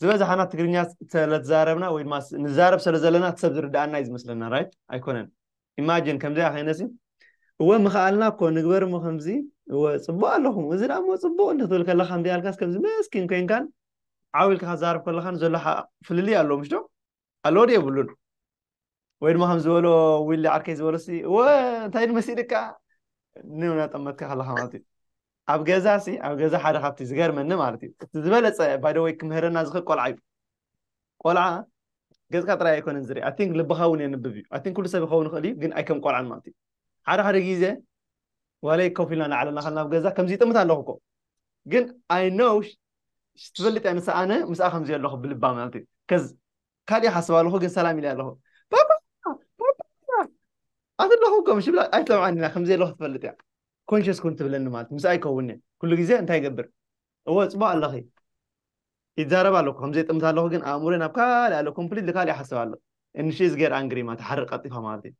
ዝበዝሓና ትግርኛ ስለትዛረብና ወይ ድማ ንዛረብ ስለ ዘለና እቲ ሰብ ዝርድኣና እዩ ዝመስለና ራይት ኣይኮነን ኢማጂን ከምዚኣ ከይነሲ እወ ምኽኣልና እኮ ንግበር እሞ ከምዚ እወ ፅቡቅ ኣለኹም እዚ ዳ እሞ ፅቡቅ እንትትብል ከለካ ከምዚኣ ኢልካስ ከምዚ መስኪን ኮይንካን ዓው ኢልካ ክትዛረብ ከለካን ዘሎ ፍልልይ ኣሎ ምሽ ዶ ኣሎድ የብሉን ወይ ድማ ከም ዝበሎ ዊሊ ዓርከይ ዝበሎ ሲ እወ እንታይ ንመሲድካ ንናጠመትካ ከለካ ማለት እዩ ኣብ ገዛ ሲ ኣብ ገዛ ሓደ ካብቲ ዝገርመኒ ማለት እዩ እቲ ዝበለፀ ባይደወይ ክምህረና ዝኽእል ቆልዓ እዩ ቆልዓ ገፅካ ጥራይ ኣይኮነን ዝርኢ ኣቲንክ ልብካ እውን የንብብ እዩ ኣቲንክ ኩሉ ሰብ ይኸውን ይኽእል እዩ ግን ኣይከም ቆልዓን ማለት እዩ ሓደ ሓደ ግዜ ዋለይ ኮፍ ኢልና ንዓለና ከልና ኣብ ገዛ ከምዚ ይጥምት ኣለኹ እኮ ግን ኣይ ኖው ትፈልጥ እያ ንሳ ኣነ ምስኣ ከምዚ ኣለኹ ብልባ ማለት እዩ ከዝ ካልእ ሓስብ ኣለኹ ግን ሰላም ኢለ ኣለኹ ባባ ኣት ኣለኹ እኮ ምሽ ብላ ኣይትሰምዓን ኢና ከምዚ ኣለኹ ትፈልጥ እያ ኮንሽስ ኩን ትብለኒ ማለት ምስ ኣይከውን እየ ኩሉ ግዜ እንታይ ይገብር እወ ፅቡቅ ኣለኺ ይዛረብ ኣለኩ ከምዚ ጥምት ኣለኹ ግን ኣእምሮ ናብ ካልእ ኣለ ኮምፕሊት ካልእ ይሓስብ ኣሎ እንሽዝ ገር ኣንግሪ ማለት ሓርቅ ቀልጢፋ ማለት እዩ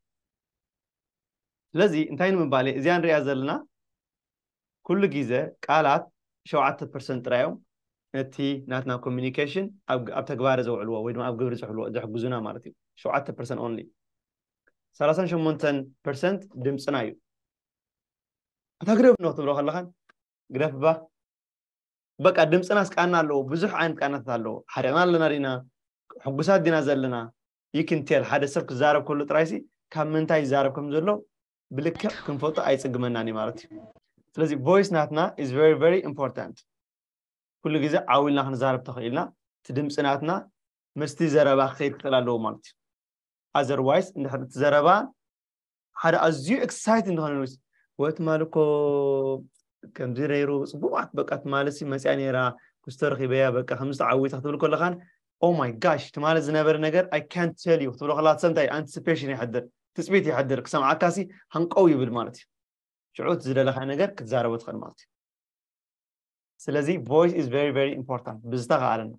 ስለዚ እንታይ ንምባል እየ እዚኣ ንሪኣ ዘለና ኩሉ ግዘ ቃላት ሸውዓተ ፐርሰንት ጥራይ እዮም ነቲ ናትና ኮሚኒኬሽን ኣብ ተግባረ ዘውዕልዎ ወይ ድማ ኣብ ግብሪ ዘሕልዎ ዘሕግዙና ማለት እዩ ሸውዓተ ፐርሰንት ኦንሊ ሰላሳን ሸሞንተን ፐርሰንት ድምፅና እዩ እታ ግደፍ እንዶ ክትብሎ ከለኻን ግደፍ እባ በቃ ድምፅናስ ቃና ኣለዎ ብዙሕ ዓይነት ቃናታት ኣለዎ ሓሪቕና ኣለና ዲና ሕጉሳት ዲና ዘለና you can tell ሓደ ሰብ ክዛረብ ከሎ ጥራይሲ ካብ ምንታይ ይዛረብ ከም ዘሎ ብልክዕ ክንፈልጦ ኣይጽግመናን እዩ ማለት እዩ ስለዚ ቮይስ ናትና is very very important ኩሉ ግዜ ዓው ኢልና ክንዛረብ ተኽኢልና እቲ ድምፂ ናትና ምስቲ ዘረባ ክኸይድ ክኽእል ኣለዎ ማለት እዩ ኣዘርዋይስ እንድሕር እቲ ዘረባ ሓደ ኣዝዩ ኤክሳይትድ ንኸነሉስ ወት ማልኮ ከምዚ ነይሩ ፅቡቃት በቃ ትማልሲ መፅያ ነይራ ክስቶ ረኺበያ በቃ ከምዚ ተዓዊታ ክትብል ከለኻን ኦ ማይ ጋሽ ትማሊ ዝነበረ ነገር ኣይ ካን ቴል ዩ ክትብሎ ከለካ ሰምታይ ኣንቲሲፔሽን ይሕድር ትፅቢት ይሕድር ክሰምዓካሲ ሃንቀው ይብል ማለት እዩ ሽዑ እቲ ዝደለካ ነገር ክትዛረቦ ትኽእል ማለት እዩ ስለዚ ቮይስ ኢዝ ቨሪ ቨሪ ኢምፖርታንት ብዝተኸኣለና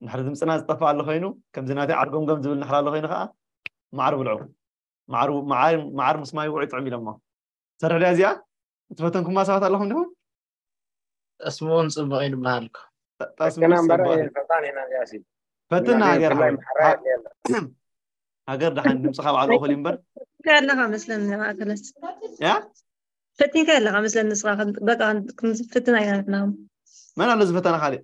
እንድሕር ድምፅና ዝጠፍእ ኣሎ ኮይኑ ከምዚ ናተይ ዓርጎምጎም ዝብል እንድሕር ኣሎ ኮይኑ ከዓ መዓር ብልዑ መዓር መዓር መዓር ምስ ማይ ውዑይ ጥዑም ኢሎሞ ትሰርሕ ድያ እዚኣ እትፈተንኩማ ሰባት ኣለኹም ዲኹም ጠስሚ እውን ፅቡቅ እዩ ዝበሃል እኮ ጠስሚ ደቅና እምበር ፅቡቅ እዩ። ፈጣን ኢና እዚኣሲ ፈትና እና ሃገር ብፍላይ ሓወይ ማሕራ የድልየና ሃገር ደሓን ድምፂ ካብ ባዕሉ እኹል እዩ እምበር ፈቲንካ ኣለኻ መስለኒ ማእከለት ያ ፈቲንካ ኣለኻ መስለኒ ንስኻ ከም- በቃ ክንፍትና ኢና ንሕና መን ኣሎ ዝፈተና ካሊእ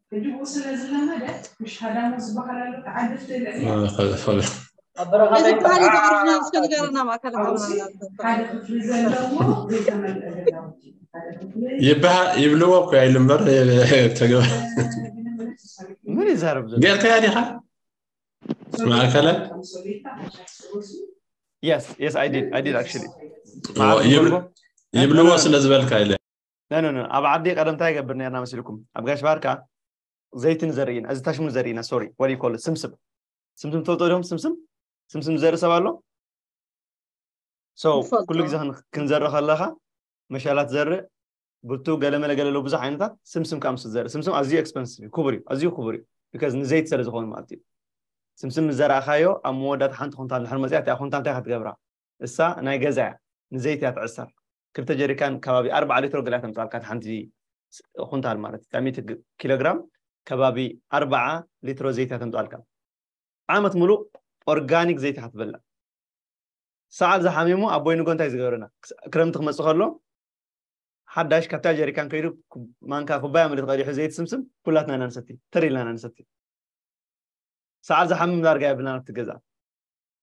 ይብልዎ እኮ ኢሉ እምበር ተገባ ምን ይዛረብ ዘሎ ጌርካያ ዲኻ ማእከለ የስ የስ ኣይ ዲድ ኣይ ዲድ ኣክቹሊ ይብልዎ ስለ ዝበልካ ኢለ ነነነ ኣብ ዓዲ ቀደም እንታይ ይገብር ነርና መሲልኩም ኣብ ጋሽ ባርካ ዘይትን ዘርኢ እዚ ታሽሙ ዘርኢ ኢና ሶሪ ወዲ ኮል ስምስም ስምስም ትፈልጦ ዲኹም ስምስም ስምስም ዘርኢ ሰብ ኣሎ ሰው ኩሉ ግዜ ክንዘሪ ከለኻ መሻላት ዘሪ ብቱ ገለመለ ገለሎ ብዙሕ ዓይነታት ስምስም ካብ ምስ ዘሪ ስምስም ኣዝዩ ኤክስፐንሲቭ እዩ ክቡር እዩ ኣዝዩ ክቡር እዩ ቢካዝ ንዘይት ስለ ዝኾኑ ማለት እዩ ስምስም ምስ ዘረእኻዮ ኣብ መወዳእታ ሓንቲ ኩንታል ድሕሪ መፅያ እቲኣ ኩንታል እንታይ ክትገብራ እሳ ናይ ገዛ እያ ንዘይት እያ ትዕሰር ክልተ ጀሪካን ከባቢ ኣርባዓ ሊትሮ ገለ ተምጻልካ እቲ ሓንቲ ኩንታል ማለት እታ ሚእቲ ኪሎግራም ከባቢ ኣርባዓ ሊትሮ ዘይቲ ተምጻልካ ዓመት ሙሉእ ኦርጋኒክ ዘይቲ ኢኻ ትበልዕ ሰዓል ዝሓሚሙ ኣቦይ ንጎ እንታይ ዝገበረና ክረምቲ ክመፅእ ከሎ ሓዳሽ ካብታ ጀሪካን ከይዱ ማንካ ኩባያ ምልት ቀዲሑ ዘይት ስምስም ኩላትና ኢና ንሰቲ ተር ኢልና ኢና ንሰቲ ሰዓር ዝሓምም ዳርጋ የብልና ኣብቲ ገዛ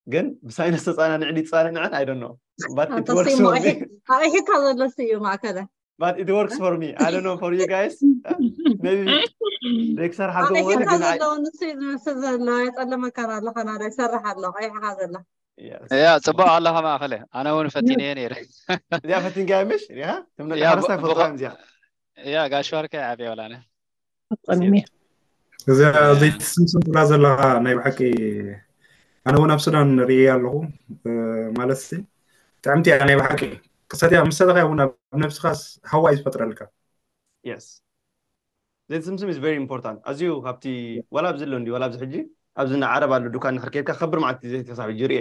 ግን ብሳይነስ ተፃናንዕ ድዩ ተፃንንዐን ኣይ ዶንት ኖ ባት ኢት ኣንተስ ወርክስ እሞ ፎር ሚ ኣሒ- ኣሒካ ዘሎስ እዩ ማእከለ ባት ኢት ወርክስ ፎር ሚ ኣይ ዶንት ኖ ፎር ዩ ጋይስ ሜቢ ደክሰር ሓጎም ወር ኣሒካ ግን ኣይ ዘለዎ ንሱ እዩ ዝመስል ዘሎ የፀለመካን ኣለካ ናደ ይሰርሕ ኣሎ ቀይሕካ ዘላ Yes. ያ ፅቡቅ ኣለካ ማእከለ ኣነ እውን ፈቲነየ ነይረ እዚኣ ፈቲንካያ ምሽ ሪኢኻ ትም ያ ሓረስታይ ብ- ክፈልጥዋ ብኸ- እዮም እዚኣ ያ ጋሽ ወርቂ ዓብየ ወላነ ኣፍቀዶም እየ እዚኣ ዘይትስምስም ትብላ ዘለካ ናይ ብሓቂ ኣነ እውን ኣብ ሱዳን ርኢ ኣለኹ ማለት ሲ ጥዕምቲ እያ ናይ ብሓቂ ክሰትያ ምስ ሰተኻ እውን ኣብ ነብስኻስ ሃዋ እዩ ዝፈጥረልካ የስ ዘይትስምስም ኢዝ ቨሪ ኢምፖርታንት ኣዝዩ ካብቲ ዋላ ኣብዚ ኣሎ እንዲ ዋላ ኣብዚ ሕጂ ኣብዚ ንዓረብ ኣሎ ዱካን ንሕር ከይድካ ከብር መዓልቲ ዘይተሳብ ሕጂ ርኤ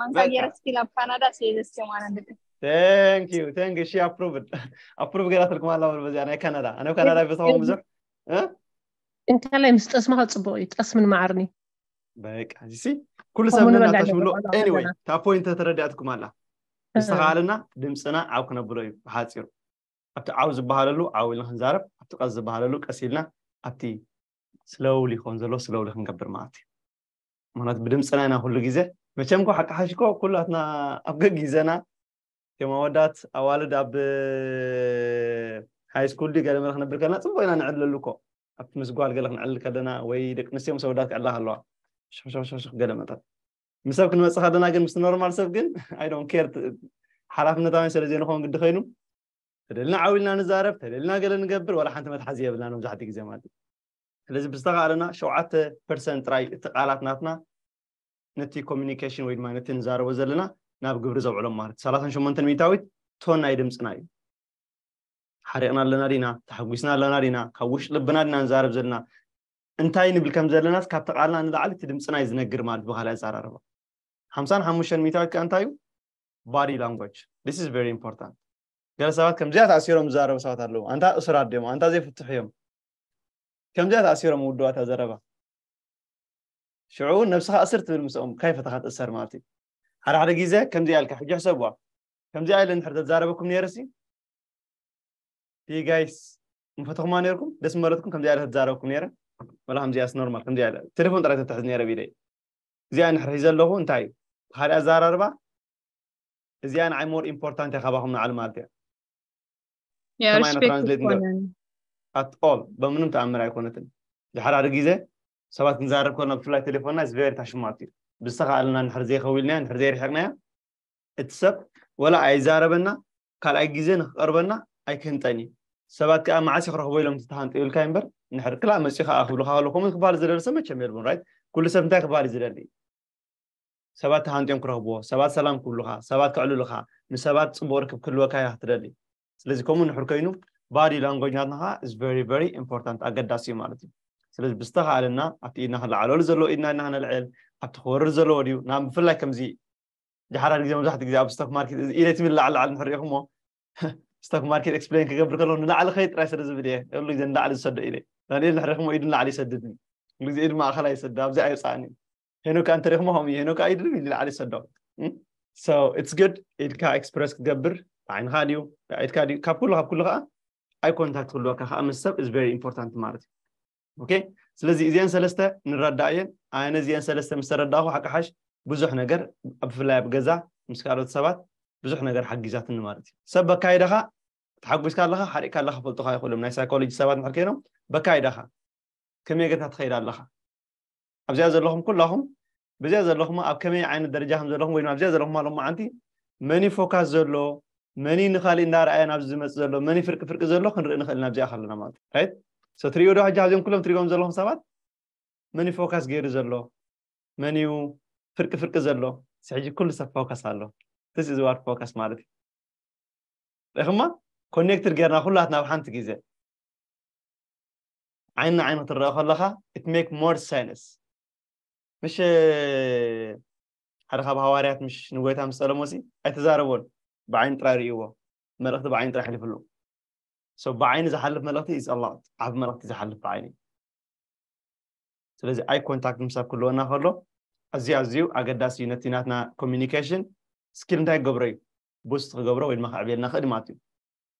ማንካ በቃ። ገይረ ስቲል ኣብ ካናዳ ስለ ዘስቸው ማለት ደቂ ቴንክ ዩ ቴንክ እሺ ኣፕሩቭድ ኣፕሩቭ ገይራትልኩም ኣላ በሉ በዚኣ ናይ ካናዳ ኣነ ኣብ ካናዳ ይፈትዎም ብዙሕ እንካላይ ምስ ጠስምካ ፅቡቅ እዩ ጠስምን ማዓርን እዩ በቃ እዚሲ ኩሉ ሰብ ከምኡ ንበላ ነናታ ሽብሎ ንበላ ኤኒወይ ዘለና። ካብ ፖይንት ተረዲኣትኩም ኣላ ዝተኸኣለና ድምፅና ዓው ክነብሎ እዩ ብሓፂሩ ኣብቲ ዓው ዝበሃለሉ ዓው ኢልና ክንዛረብ ኣብቲ ቀስ ዝበሃለሉ ቀስ ኢልና ኣብቲ ስለውሊ ክኾን ዘሎ ስለውሊ ክንገብር ማለት እዩ ማለት ብድምፅና ኢና ኩሉ ግዜ መቸም ኮ ሓቂ ሓሽኮ ኩላትና ኣብ ገጊዘና ከም ኣወዳት ኣዋልድ ኣብ ሃይ ስኩል ድዩ ገለ መለ ክነብር ከለና ፅቡቅ ኢና ንዕለሉ እኮ ኣብ ምስ ጓል ገለ ክንዕልል ከለና ወይ ደቂ ኣንስትዮ ምስ ኣወዳት ክዕላ ከለዋ ሽክሽክሽክ ገለ መጠን ምስ ሰብ ክንመፅእ ከለና ግን ምስ ኖርማል ሰብ ግን ኣይ ዶንት ኬር ሓላፍነታውያን ስለ ዘይንኸውን ግዲ ኮይኑ ተደልና ዓው ኢልና ንዛረብ ተደልና ገለ ንገብር ዋላ ሓንቲ መትሓዚ የብልና መብዛሕትኡ ግዜ ማለት እዩ ስለዚ ብዝተኻእለና ሸውዓተ ፐርሰንት ጥራይ እቲ ቃላት ናትና ነቲ ኮሚኒኬሽን ወይ ድማ ነቲ ንዛረቦ ዘለና ናብ ግብሪ ዘውዕሎም ማለት ሰላሳን ሸሞንተን ሚእታዊት ቶን ናይ ድምፅና እዩ ሓሪቕና ኣለና ዲና ተሓጒስና ኣለና ዲና ካብ ውሽጢ ልብና ዲና ንዛረብ ዘለና እንታይ ንብል ከም ዘለናስ ካብቲ ቃልና ንላዕሊ እቲ ድምፅና እዩ ዝነግር ማለት ብካልእ ኣዘራርባ ሓምሳን ሓሙሽተን ሚእታዊት ከዓ እንታይ እዩ ባዲ ላንጓጅ ስ ኢዝ ቨሪ ኢምፖርታንት ገለ ሰባት ከምዚኣ ተኣሲሮም ዝዛረቡ ሰባት ኣለዉ ኣንታ እሱራት ድዮም ኣንታ ዘይፍትሑ እዮም ከምዚኣ ተኣሲሮም ውዱባት ኣብ ዘረባ ሽዑ እውን ነብስኻ እስር ትብል ምስኦም ካይፈተኻ ትእሰር ማለት እዩ ሓደ ሓደ ግዜ ከምዚኣ ኢልካ ሕጂ ሕሰብዋ ከምዚኣ ኢለ ንድሕር ተዛረበኩም ነይረሲ ጋይስ ምፈተኹማ ነይርኩም ደስ መረትኩም ከምዚኣ ኢለ ተዛረበኩም ነይረ ወላ ከምዚኣስ ኖርማል ከምዚኣ ኢለ ቴሌፎን ጥራይ ተትሕዝ ነይረ ቢደይ እዚኣ ንሕር ሒዘ ኣለኹ እንታይ እዩ ብካሊእ ኣዘራርባ እዚኣ ንዓይ ሞር ኢምፖርታንት እያ ካባኹም ንዓል ማለት እያ ያ ከማይ ሪስፔክት ትራንስሌት ንገር ኣይኮነን ኣት ኦል በምንም ተኣምር ኣይኮነትን ድሓር ሓደ ግዜ ሰባት ክንዛረብ ከለና ብፍላይ ቴሌፎንና ኢስ ቨሪ ታሽማት እዩ ብዝተኻእለና ንድሕር ዘይኸዊልናያ ንድሕር ዘይርሒቕናያ እቲ ሰብ ወላ ኣይዛረበና ካልኣይ ግዜ ንክቐርበና ኣይክህንጠን እዩ ሰባት ከዓ መዓስ እዩ ክረኽቦ ኢሎም ዝተሃንጠ ይብልካ እምበር ንድሕር ክላእ መፅኡ ከዓ ክብልካ ከሎ ከምኡ ክበሃል ዝደሊ ሰብ መቸም የልቦን ራይት ኩሉ ሰብ እንታይ ክበሃል እዩ ዝደሊ ሰባት ተሃንጥዮም ክረኽብዎ፣ ሰባት ሰላም ክብሉኻ፣ ሰባት ከዕልሉኻ፣ ምስ ሰባት ጽቡቕ ርክብ ክህልወካ ኢኻ ክትደሊ። ስለዚ ከምኡ እንድሕር ኮይኑ ባዲ ላንጎጅ ናትና ከኣ is very very important ኣገዳሲ እዩ ማለት እዩ። ስለዚ ብዝተኻእለና ኣብቲ ኢድና ክለዓለሉ ዘለዎ ኢድና ኢድና ክነልዕል፣ ኣብቲ ክወርድ ዘለዎ ድዩ ናብ ብፍላይ ከምዚ ጃሓዳድ ግዜ መብዛሕትኡ ግዜ ኣብ ስቶክ ማርኬት እዚ ኢደይ ትብል ላዕሊ ላዕሊ እንድሕር ሪኢኹሞ ስቶክ ማርኬት ኤክስፕሌን ክገብር ከለኹ ንላዕሊ ከይድ ጥራይ ስለ ዝብል እየ ኩሉ ግዜ ንላዕሊ ዝሰዶ ኢደይ ዳንኤል እንድሕር ሪኢኹሞ ኢዱ ንላዕሊ ይሰድድኒ ኩሉ ግዜ ኢዱ ማእኸላይ ይሰድድ ኣብዚኣ የውጽኣኒ ሄኖክ ኣንተሪክሞ ከምኡ እዩ ሄኖክ ኣይድሪ ንላዕሊ ሰዶ ሶ ኢትስ ግድ ኢድካ ኤክስፕረስ ክትገብር ዓይንኻ ድዩ ኢድካ ድዩ ካብ ኩሉ ካብ ኩሉ ከዓ ኣይ ኮንታክት ክህልወካ ከዓ ምስ ሰብ ኢዝ ቨሪ ኢምፖርታንት ማለት እዩ ኦኬ ስለዚ እዚአን ሰለስተ ንረዳእ እየን ኣነ እዚአን ሰለስተ ምስ ተረዳእኹ ሓቂ ሓሽ ብዙሕ ነገር ብፍላይ ኣብ ገዛ ምስ ካልኦት ሰባት ብዙሕ ነገር ሓጊዛትኒ ማለት እዩ ሰብ በካይዳኻ ተሓጒስካ ኣለኻ ሓሪቕካ ኣለኻ ፈልጡካ ይኽእሎም ናይ ሳይኮሎጂ ሰባት ንሕር ኮይኖም በካይዳኻ ከመይ ጌርካ ትኸይድ ኣለኻ ኣብዚኣ ዘለኹም ኩላኹም ብዚኣ ዘለኹም ኣብ ከመይ ዓይነት ደረጃ ከም ዘለኹም ወይ ድማ ኣብዚኣ ዘለኹም ኣሎ መዓንቲ መን እዩ ፎካስ ዘሎ መን እዩ ንካሊእ እንዳርኣየ ናብዚ ዝመፅእ ዘሎ መን እዩ ፍርቂ ፍርቂ ዘሎ ክንርኢ ንኽእል ኢና ኣብዚኣ ከለና ማለት እዩ ራይት ሶ ትሪእዮ ዶ ሕጂ ኣብዚኦም ኩሎም ትሪእዎም ዘለኹም ሰባት መን እዩ ፎካስ ገይሩ ዘሎ መን እዩ ፍርቂ ፍርቂ ዘሎ እዚ ሕጂ ኩሉ ሰብ ፎካስ ኣሎ ስ እዚ ዋር ፎካስ ማለት እዩ ሪኹማ ኮኔክትድ ጌርና ኩላትና ኣብ ሓንቲ ግዜ ዓይኒ ንዓይኒ ክትረኣ ከለኻ it make more sense ምሽ ሓደ ካብ ሃዋርያት ምሽ ንጎይታ ምስ ጸለሞሲ ኣይተዛረቦን ብዓይኒ ጥራይ ርእይዎ መልእኽቲ ብዓይኒ ጥራይ ሕሊፍሉ ሶ ብዓይኒ ዝሓልፍ መልእኽቲ is a lot ዓቢ መልእኽቲ ዝሓልፍ ብዓይኒ ስለዚ ኣይ ኮንታክት ምሳብ ክህልወና ከሎ ኣዝዩ ኣዝዩ ኣገዳሲ እዩ ነቲ ናትና ኮሚኒኬሽን ስኪል እንታይ ክገብሮ እዩ ቡስት ክገብሮ ወይ ድማ ከዕብየልና ክእል ማለት እዩ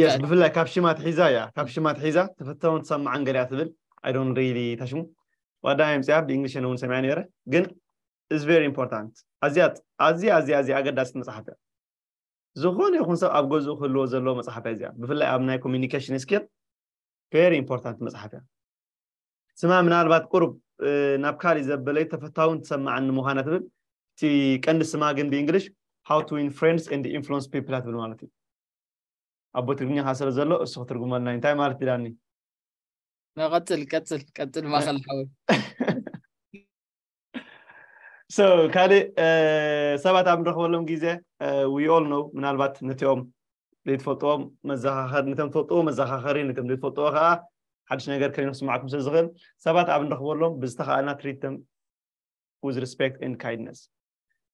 Yes, ብፍላይ ካብ ሽማ ትሒዛ እያ ካብ ሽማ ትሒዛ ተፈታውን ትሰማዕን ገሊኣ ትብል ኣይ ዶንት ሪሊ ታሽሙ ዋዳ የምፅያ ብእንግሊሽ እውን ሰሚዐ ነይረ ግን ኢዝ ቨሪ ኢምፖርታንት ኣዝያ ኣዝያ ኣዝያ ኣዝያ ኣገዳሲት መፅሓፍ እያ ዝኾነ ይኹን ሰብ ኣብ ገዝኡ ክህልዎ ዘለዎ መፅሓፍ እያ እዚኣ ብፍላይ ኣብ ናይ ኮሚኒኬሽን ስኪል ቨሪ ኢምፖርታንት መፅሓፍ እያ ስማ ምናልባት ቁሩብ ናብ ካሊእ ዘበለይ ተፈታውን ትሰማዕን ንምዃና ትብል እቲ ቀንዲ ስማ ግን ብእንግሊሽ ሃው ቱ ዊን ፍሬንድስ ኤንድ ኢንፍሉንስ ፒፕል ትብል ማለት እዩ ኣቦ ትግርኛኻ ስለ ዘሎ እሱ ክትርጉመልና እዩ እንታይ ማለት ዳኒ ቀፅል ቀፅል ቀፅል ማኸል ሓወይ ሶ ካልእ ሰባት ኣብ ንረኽበሎም ግዜ ዊኦል ነው ምናልባት ነቲኦም ዘይትፈልጥዎም መዘኻኸሪ ነቶም ትፈልጥዎ መዘኻኸሪ ነቶም ዘይትፈልጥዎ ከዓ ሓድሽ ነገር ከይኑ ክስማዕኩም ስለ ዝኽእል ሰባት ኣብ ንረኽበሎም ብዝተኸኣልና ትሪትም ዊዝ ሪስፔክት ኤንድ ካይድነስ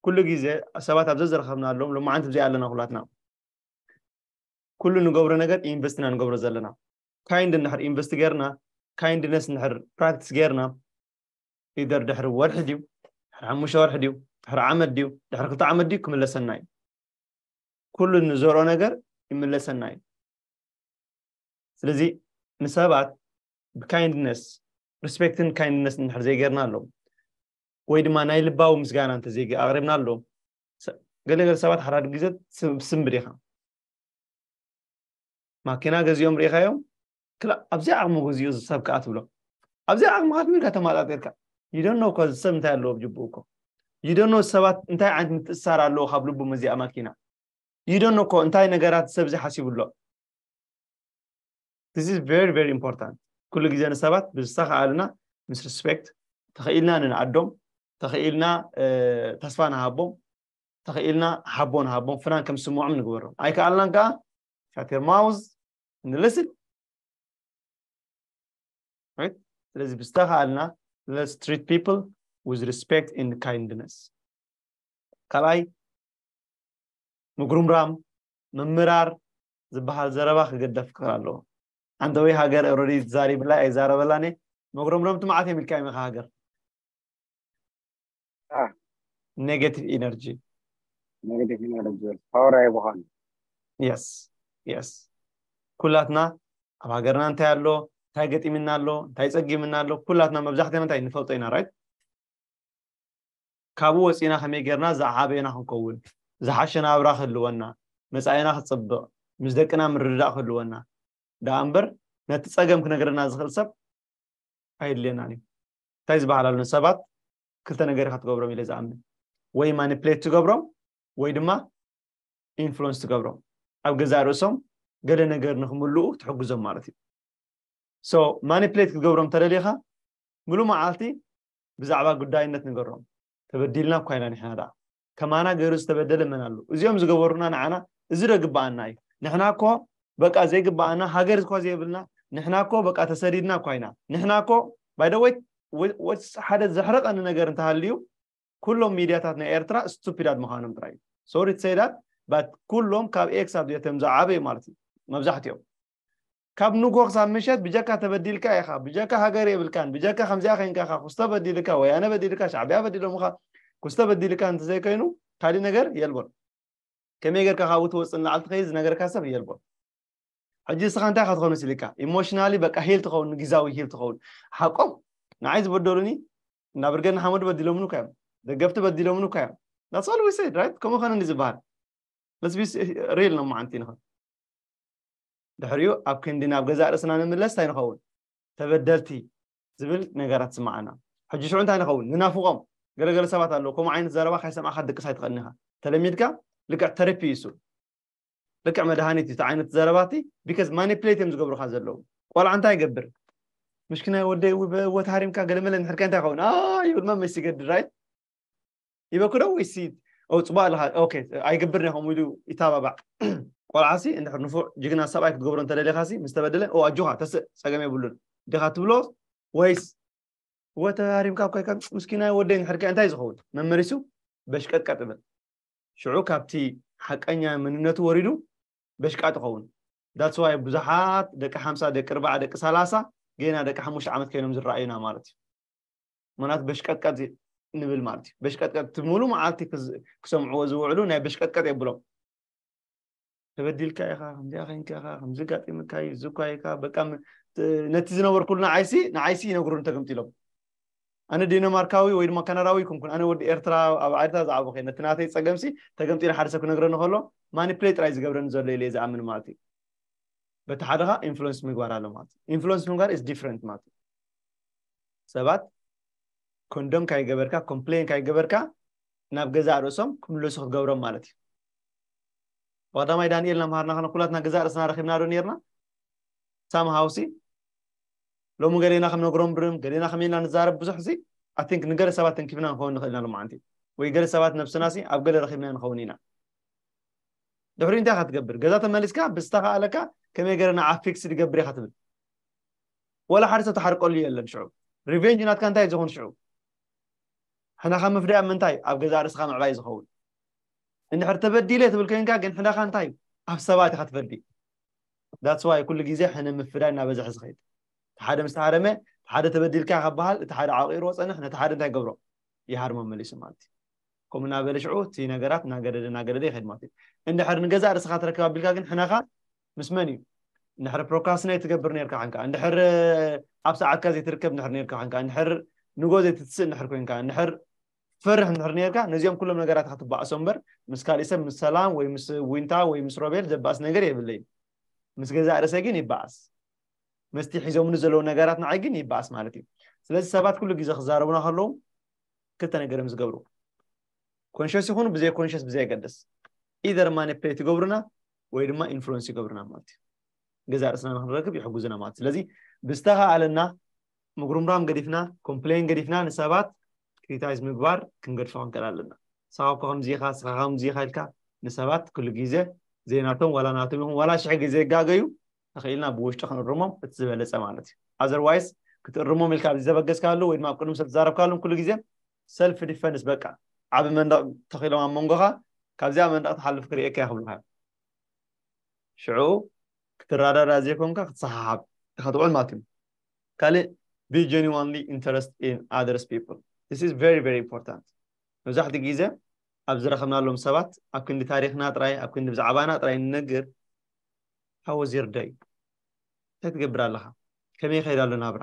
ኩሉ ግዜ ሰባት ኣብ ዘዘረኸብናሎም ሎማዓንቲ ብዘይ ኣለና ኩላትና ኩሉ ንገብሮ ነገር ኢንቨስት ኢና ንገብሮ ዘለና ካይንድ እንድሕር ኢንቨስት ገይርና ካይንድነስ እንድሕር ፕራክቲስ ገይርና ኢደር ድሕሪ ወርሒ ድዩ ድሕሪ ሓሙሽተ ወርሒ ድዩ ድሕሪ ዓመት ድዩ ድሕሪ ክልተ ዓመት ድዩ ክምለሰና እዩ ኩሉ ንዘርኦ ነገር ይምለሰና እዩ ስለዚ ንሰባት ብካይንድነስ ሪስፔክትን ካይንድነስ እንድሕር ዘይገርና ኣለዎም ወይ ድማ ናይ ልባዊ ምስጋና እንተዘይ ኣቕሪብና ኣለዎም ገለ ገለ ሰባት ሓዳር ግዜ ስምብድ ኢኻ ማኪና ገዚኦም ርኢኻዮም ክላእ ኣብዚኣ ዓቕሚ ገዚኡ ዝሰብ ከዓ ትብሎ ኣብዚኣ ዓቕሚ ካት ምንካ ተማጣጢርካ ይደኖ እኮ ዝሰብ እንታይ ኣለዎ ብጅብኡ እኮ ይደኖ ሰባት እንታይ ዓይነት ምትእሳር ኣለዎ ካብ ልቡ መዚኣ ማኪና ይደኖ እኮ እንታይ ነገራት ሰብዚ ሓሲቡ ኣሎ This is very very important ኩሉ ግዜ ንሰባት ብዝተኸኣለና ምስ ሪስፔክት ተኽኢልና ንንኣዶም ተኽኢልና ተስፋ ንሃቦም ተኽኢልና ሓቦ ንሃቦም ፍናን ከም ዝስምዖም ንግበሮም ኣይከኣልናን ከዓ ሻቴር ማውዝ ንልስን ስለዚ ብዝተኸኣልና let's treat people with respect and kindness ካልኣይ ምጉርምራም ምምራር ዝብሃል ዘረባ ክግደፍ ክክል ኣለዎ ዓንተውይ ሃገር ኦረዲ ትዛሪብላይ ኣይዛረበላን እየ መጉረምረምቲ መዓት እዮም ኢልካ ይመኻ ሃገር ኔጋቲቭ ኢነርጂ ኔጋቲቭ ኢነርጂ ፓወር ኣይብዃን የስ የስ ኩላትና ኣብ ሃገርና እንታይ ኣሎ እንታይ ገጢምና ኣሎ እንታይ ፀጊምና ኣሎ ኩላትና መብዛሕትና እንታይ ንፈልጦ ኢና ራይት ካብኡ ወጺእና ከመይ ጌርና ዝዓበና ክንከውን፣ ዝሓሸ ናብራ ክህልወና፣ መጻኢና ክጽብቕ፣ ምስ ደቅና ምርድዳእ ክህልወና ደኣ እምበር ነቲ ጸገም ክነግረና ዝኽእል ሰብ ኣየድልየናን እዩ። እንታይ ዝበሃል ኣሎ ንሰባት ክልተ ነገር ኢኻ ትገብሮም ኢለ ዝኣምን ወይ ማኒፕሌት ትገብሮም ወይ ድማ ኢንፍሉወንስ ትገብሮም ኣብ ገዛእ ርእሶም ገለ ነገር ንክምልኡ ትሕግዞም ማለት እዩ። ሶ ማኒፕሌት ክትገብሮም ተደሊኻ ምሉእ መዓልቲ ብዛዕባ ግዳይነት ንገሮም ተበዲልና እኳ ኢና ንሕና ደኣ ከማና ገይሩ ዝተበደለ መን ኣሎ እዚኦም ዝገበሩና ንዓና እዚ ዶ ግበኣና እዩ ንሕና እኮ በቃ ዘይግበኣና ሃገር እኳ ዘይብልና ንሕና እኮ በቃ ተሰዲድና እኳ ኢና ንሕና እኮ ባይደወይ ወስ ሓደ ዘሕርቐኒ ነገር እንተሃልዩ ኩሎም ሚድያታት ናይ ኤርትራ ስቱፒዳት ምዃኖም ጥራይ እዩ ሶሪ ትሰይዳት ባት ኩሎም ካብ ኤክሳብ ዜተም ዝዓበዩ ማለት እዩ መብዛሕትኦም ካብ ንጎ ክሳብ ምሸት ብጀካ ተበዲልካ ኢካ ብጀካ ሃገር የብልካን ብጀካ ከምዚኣ ከይንካ ኢካ ኩስቶ በዲልካ ወያነ በዲልካ ሻዕቢያ በዲሎምካ ኩስቶ በዲልካ እንተዘይ ከይኑ ካሊእ ነገር የልቦን ከመይ ጌርካ ካብኡ ትወጽእ ንላዕሊ ትኸይድ ዝነገርካ ሰብ የልቦን ሕጂ እስኻ እንታይ ክትኾን ስልካ ኢሞሽናሊ በቃ ሂል ትኸውን ንግዛዊ ሂል ትኸውን ሓቆም ንዓይ ዝበደሉኒ እና ብርገድ ንሓመዱ በዲሎምኒ እኳ እዮም ደገፍቲ በዲሎምኒ እኳ እዮም ዳትስ ኦል ዊ ሰይድ ራይት ከምኡ ኸነ ዝበሃል ለስ ቢ ሪል ነው መዓንቲ ንኸን ድሕሪኡ ኣብ ክንዲ ናብ ገዛእ ርእስና ንምለስ እንታይ ንኸውን? ተበደልቲ ዝብል ነገራት ዝስምዓና። ሕጂ ሽዑ እንታይ ንኸውን? ንናፍቖም። ገለ ገለ ሰባት ኣለዉ፣ ከምኡ ዓይነት ዘረባ ከይሰማዕካ ክትድቅስ ኣይትኽእልን ኢኻ። ተለሚድካ ልክዕ ተረፒ እዩ እሱ። ልክዕ መድሃኒት እዩ እቲ ዓይነት ዘረባ እቲ፣ ቢከዝ ማኒፕሌት እዮም ዝገብሩኻ ዘለዉ። ቆልዓ እንታይ ይገብር? ምሽኪናይ ወደይ፣ እውይ ብእወት ሃሪምካ ገለመለ እንድሕር ከ እንታይ ይኸውን? ኣይ ይብል መመሽ ዝገድድ ራይት። ይበክዶ ወይሲ ፅቡቅ ኣለካ ኣይገብር ኒኹም ኢሉ ይታባባዕ ቆልዓሲ እንድሕር ንፉዕ ጅግና ሰብኣይ ክትገብሮ እንተደሊኻሲ ምስ ተበደለ ኦ ኣጆኻ ተስእ ፀገም የብሉን ዲኻ ትብሎ ወይስ ወተ ሃሪምካ ኮይካ ምስኪናይ ወደይ ንሕድካ እንታይ ዝኸውን መመሊሱ በሽቀጥቀጥ እብል ሽዑ ካብቲ ሓቀኛ መንነቱ ወሪዱ በሽቃጥ ይኸውን ዳትስዋይ ብዙሓት ደቂ ሓምሳ ደቂ ርባዓ ደቂ ሰላሳ ገና ደቂ ሓሙሽተ ዓመት ኮይኖም ዝረኣዩና ማለት እዩ ምክንያቱ በሽቀጥቀጥ ንብል ማለት እዩ በሽቀጥቀጥ እቲ ሙሉ መዓልቲ ክሰምዕዎ ዝውዕሉ ናይ በሽቀጥቀጥ የብሎም ተበዲልካ ኢኻ ከምዚኣ ከንካ ኢኻ ከምዚ ጋጢምካ እዩ እዚ እኳ ኢኻ በቃ ነቲ ዝነበርኩሉ ንዓይሲ ንዓይሲ ይነግሩን ተገምቲ ኢሎም ኣነ ዴንማርካዊ ወይ ድማ ካናዳዊ ይኩንኩን ኣነ ወዲ ኤርትራ ኣብ ዓድታ ዝዓበ ኮ ነቲ ናተይ ፀገምሲ ተገምቲ ንሓደ ሰብ ክነግረኒ ከሎ ማኒፕሌ ጥራይ ዝገብረኒ ዘሎ ኢለ ዝኣምን ማለት እዩ በቲ ሓደኻ ኢንፍሉንስ ምግባር ኣሎ ማለት እዩ ኢንፍሉንስ ምግባር ኢስ ዲፍረንት ማለት እዩ ሰባት ኮንዶም ካይገበርካ ኮምፕሌን ካይገበርካ ናብ ገዛእ ርእሶም ክምለሱ ክትገብሮም ማለት እዩ ዋዳማይ ዳንኤል ናምሃርና ከነ ኩላትና ገዛእ ርእስና ረኪብና ዶ ነርና ሳም ሃውሲ ሎሚ ገሌና ከም ነግሮም ብርም ገሌና ከመይና ንዛረብ ብዙሕ ሲ ኣቲንክ ንገለ ሰባት ተንኪፍና ንኸውን ንኽእል ኢና ሎማዓንቲ ወይ ገለ ሰባት ነብስና ሲ ኣብ ገለ ረኪብና ንኸውን ኢና ድሕሪ እንታይ ኢኻ ትገብር ገዛ ተመሊስካ ብዝተኻእለካ ከመይ ገረ ንዓ ፊክስ ድገብር ኢኻ ትብል ወላ ሓደ ሰብ ትሓርቀሉ የለን ሽዑ ሪቨንጅ ናትካ እንታይ ዝኹን ሽዑ ሕነኻ ምፍዳይ ኣብ ምንታይ ኣብ ገዛ ርእስኻ ምዕባይ ዝኸውን እንድሕር ተበዲለ ትብል ኮይንካ ግን ሕነኻ እንታይ ኣብ ሰባት ኢኻ ትፈዲ ዳትስ ዋይ ኩሉ ግዜ ሕነ ምፍዳይ እናበዝሐ ዝኸይድ እቲ ሓደ ምስ ተሃረመ ሓደ ተበዲልካ ከበሃል እቲ ሓደ ዓቂርዎ ፀንሕ ነቲ ሓደ እንታይ ገብሮ ይሃርሞ መሊሱ ማለት እዩ ከምኡ እናበለ ሽዑ እቲ ነገራት እናገደደ እናገደደ ይኸይድ ማለት እዩ እንድሕር ንገዛእ ርእስኻ ትረክብ ኣቢልካ ግን ሕነኻ ምስ መን እዩ እንድሕር ፕሮክራስትናይት ትገብር ነርካ ሕንካ እንድሕር ኣብ ሰዓትካ ዘይትርከብ እንድሕር ነርካ ሕንካ እንድሕር ንጎ ዘይትትስእ እንድሕር ኮንካ እንድሕር ትፈርሕ እንድሕር ነርካ ነዚኦም ኩሎም ነገራት ክትባእሶ እምበር ምስ ካሊእ ሰብ ምስ ሰላም ወይ ምስ ዊንታ ወይ ምስ ሮቤል ዘባእስ ነገር የብለይ ምስ ገዛእ ርእሰይ ግን ይባእስ መስቲ ሒዞምኒ ዘለዉ ነገራት ንዓይ ግን ይባእስ ማለት እዩ ስለዚ ሰባት ኩሉ ግዜ ክዛረቡና ከለዉ ክልተ ነገር እዮም ዝገብሩ ኮንሽስ ይኹኑ ብዘይ ኮንሽስ ብዘየገድስ ኢደር ማኒፕሌት ይገብሩና ወይ ድማ ኢንፍሉንስ ይገብርና ማለት እዩ ገዛ ርእስና ንክንረክብ ይሕጉዝና ማለት ስለዚ ብዝተኸኣለና ምጉርምራም ገዲፍና ኮምፕሌን ገዲፍና ንሰባት ክሪታይዝ ምግባር ክንገድፎ ክንክእል ኣለና ሳብኮ ከምዚኻ ስኻ ከምዚኻ ኢልካ ንሰባት ኩሉ ግዜ ዘይናቶም ዋላ ናቶም ይኹን ዋላ ሽሕ ግዜ ይጋገዩ ተኽኢልና ብውሽጢ ክንእርሞም እቲ ዝበለፀ ማለት እዩ ኣዘርዋይስ ክትእርሞም ኢልካ ኣብዚ ዘበገስካሉ ወይ ድማ ኣብ ቅድሚ ሰብ ትዛረብካሉም ኩሉ ግዜ ሰልፍ ዲፈንስ በቃ ዓቢ መንደቕ ተኺሎም ኣብ መንጎኻ ካብዚኣ መንደቕ ትሓልፍ ክርእየካ እየ ክብሉካ እዮም ሽዑ ክትረዳዳ ዘይኮንካ ክትሰሓሓብ ኢኻ ትውዕል ማለት እዩ ካልእ be genuinely interested in others people this is very very important መብዛሕትኡ ግዜ ኣብ ዝረኸብናሎም ሰባት ኣብ ክንዲ ታሪኽና ጥራይ ኣብ ክንዲ ብዛዕባና ጥራይ ንነግር how was your day እንታይ ትገብር ኣለኻ ከመይ ይኸይድ ኣሎ ናብራ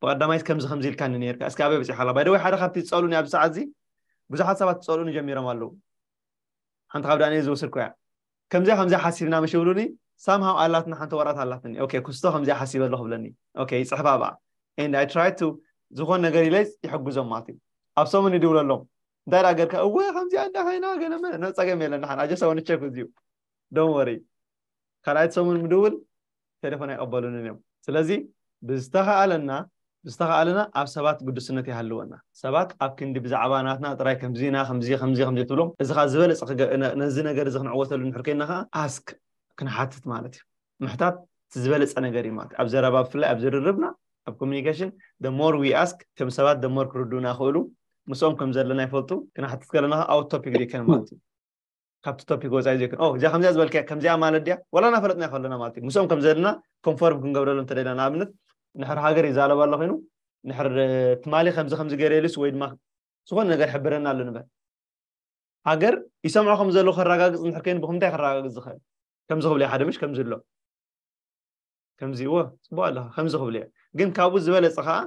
ብቀዳማይስ ከምዚ ከምዚ ኢልካኒ ኔርካ እስኪ ኣበይ በጺሓ ኣላ ባይ ዘ ወይ ሓደ ካብቲ ዝጸሉኒ ኣብዚ ሰዓት እዚ ብዙሓት ሰባት ዝጸሉኒ ጀሚሮም ኣለዉ ሓንቲ ካብ ዳንኤል ዝወሰድኩያ ከምዚኣ ከምዚኣ ሓሲብና መሽ ይብሉኒ ሳም ሃው ኣላትና ሓንቲ ወረቀት ኣላትኒ ኦኬ ኩስቶ ከምዚኣ ሓሲበ ኣለኹ ብለኒ ኦኬ ይጽሕፋ ብኣ ኤንድ ኣይ ትራይ ቱ ዝኾን ነገር ኢለ ይሕግዞም ማለት እዩ ኣብ ሰሙን ይድውለሎም እንታይ ደኣ ገርካ እወ ከምዚኣ እንዳ ኮይና ገለመ ጸገም የለን ሓን ኣጀሰ ወንቸክ እዚዩ ዶን ወሪ ካልኣይት ሰሙን ምድውል ቴሌፎን ኣይቅበሉንን እዮም ስለዚ ብዝተኻኣለና ብዝተኻኣለና ኣብ ሰባት ግዱስነት ይሃልወና ሰባት ኣብ ክንዲ ብዛዕባ ናትና ጥራይ ከምዚ ኢና ከምዚ ከምዚ ከምዚ ትብሎም እዚ ካኣ ዝበለጸ ክገ ነዚ ነገር እዚ ክንዕወተሉ እንድሕር ኮይና ካኣ ask ክንሓትት ማለት እዩ ምሕታት እቲ ዝበለጸ ነገር እዩ ማለት ኣብ ዘረባ ብፍላይ ኣብ ዝርርብና ኣብ communication the more we ask እቶም ሰባት the more ክርድኡና ይኽእሉ ምስኦም ከም ዘለና ይፈልጡ ክንሓትት ከለና ካኣ out topic ዘይከን ማለት እዩ ካብቲ ቶፒክ ወጻኢ ዘይኮነ ኦ እዚኣ ከምዚኣ ዝበልካያ ከምዚኣ ማለት ድያ ዋላ እናፈለጥናዮ ከለና ማለት እዩ ምስኦም ከም ዘለና ኮንፎርም ክንገብረሉ እንተደና ንኣብነት ንሕር ሃገር ይዛረብ ኣሎ ኮይኑ ንሕር ትማሊ ከምዚ ከምዚ ገይረሉስ ወይ ድማ ዝኾነ ነገር ሕብረና ኣሎ ንበል ሃገር ይሰምዖ ከም ዘሎ ከረጋግፅ እንድሕር ኮይኑ ብክምንታይ ከረጋግፅ ዝኽእል ከምዚ ክብልዮ ሓደ ምሽ ከምዚ ኣሎ ከምዚ እዎ ፅቡቅ ኣለካ ከምዚ ክብልዮ ግን ካብኡ ዝበለፀ ከዓ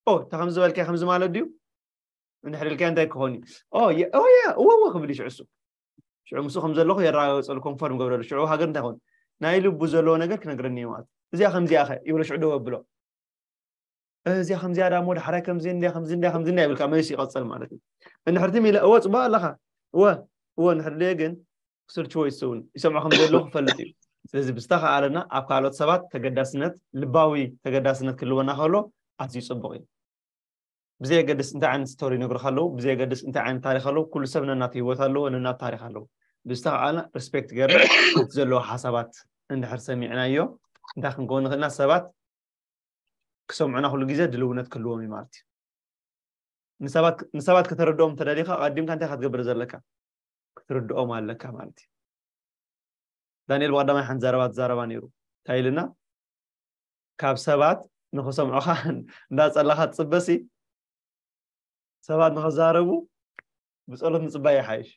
ኦ እታ ከምዚ በልካዮ ከምዚ ማለት ድዩ እንድሕር ኢልካዮ እንታይ ክኾን እዩ ኦያ እወዎ ክብል እዩ ሽዑ እሱ ሽዑ ምስ ከም ዘለኹ የረጋገፀሉ ኮንፈርም ገብረሉ ሽዑ ሃገር እንታይ ኾን ናይ ልቡ ዘለዎ ነገር ክነግረኒ እዩ ማለት እዚኣ ከምዚኣ ኸ ይብሎ ሽዑ ደው ኣብሎ እዚኣ ከምዚኣ ዳ እሞ ዳሕራይ ከምዚ እንዳ ከምዚ እንዳ ከምዚ እንዳ ይብልካ መሊሱ ይቐፀል ማለት እዩ እንድሕር ትም ኢለ እወ ፅቡቅ ኣለኻ እወ እወ እንድሕር ደየ ግን ክስልችዎ ይስውን ይሰምዖ ከም ዘለኹ ክፈልጥ እዩ ስለዚ ብዝተኸኣለና ኣብ ካልኦት ሰባት ተገዳስነት ልባዊ ተገዳስነት ክልወና ከሎ ኣዝዩ ፅቡቅ እዩ ብዘየገድስ እንታይ ዓይነት ስቶሪ ይነግሩኻ ኣለዉ ብዘየገድስ እንታይ ዓይነት ታሪክ ኣለዉ ኩሉ ሰብ ነናቱ ሂወት ኣለዎ ነናቱ ታሪክ ኣለዎ ብዝተኸኣልና ሪስፔክት ገርና እቲ ዘለዎ ሓሳባት እንድሕር ሰሚዕናዮ እንታይ ክንከውን ንኽእልና ሰባት ክሰምዑና ኩሉ ግዜ ድልውነት ክህልዎም እዩ ማለት እዩ ንሰባት ከተረድኦም ተደሊኻ ቀዲምካ እንታይ ክትገብር ዘለካ ክትርድኦም ኣለካ ማለት እዩ ዳንኤል ብቀዳማይ ሓንቲ ዘረባ ትዛረባ ነይሩ እንታይ ኢልና ካብ ሰባት ንክሰምዑኻ እንዳፀለኻ ትፅበ ሲ ሰባት ንክዛረቡ ብፀሎት ምፅባይ ይሓይሽ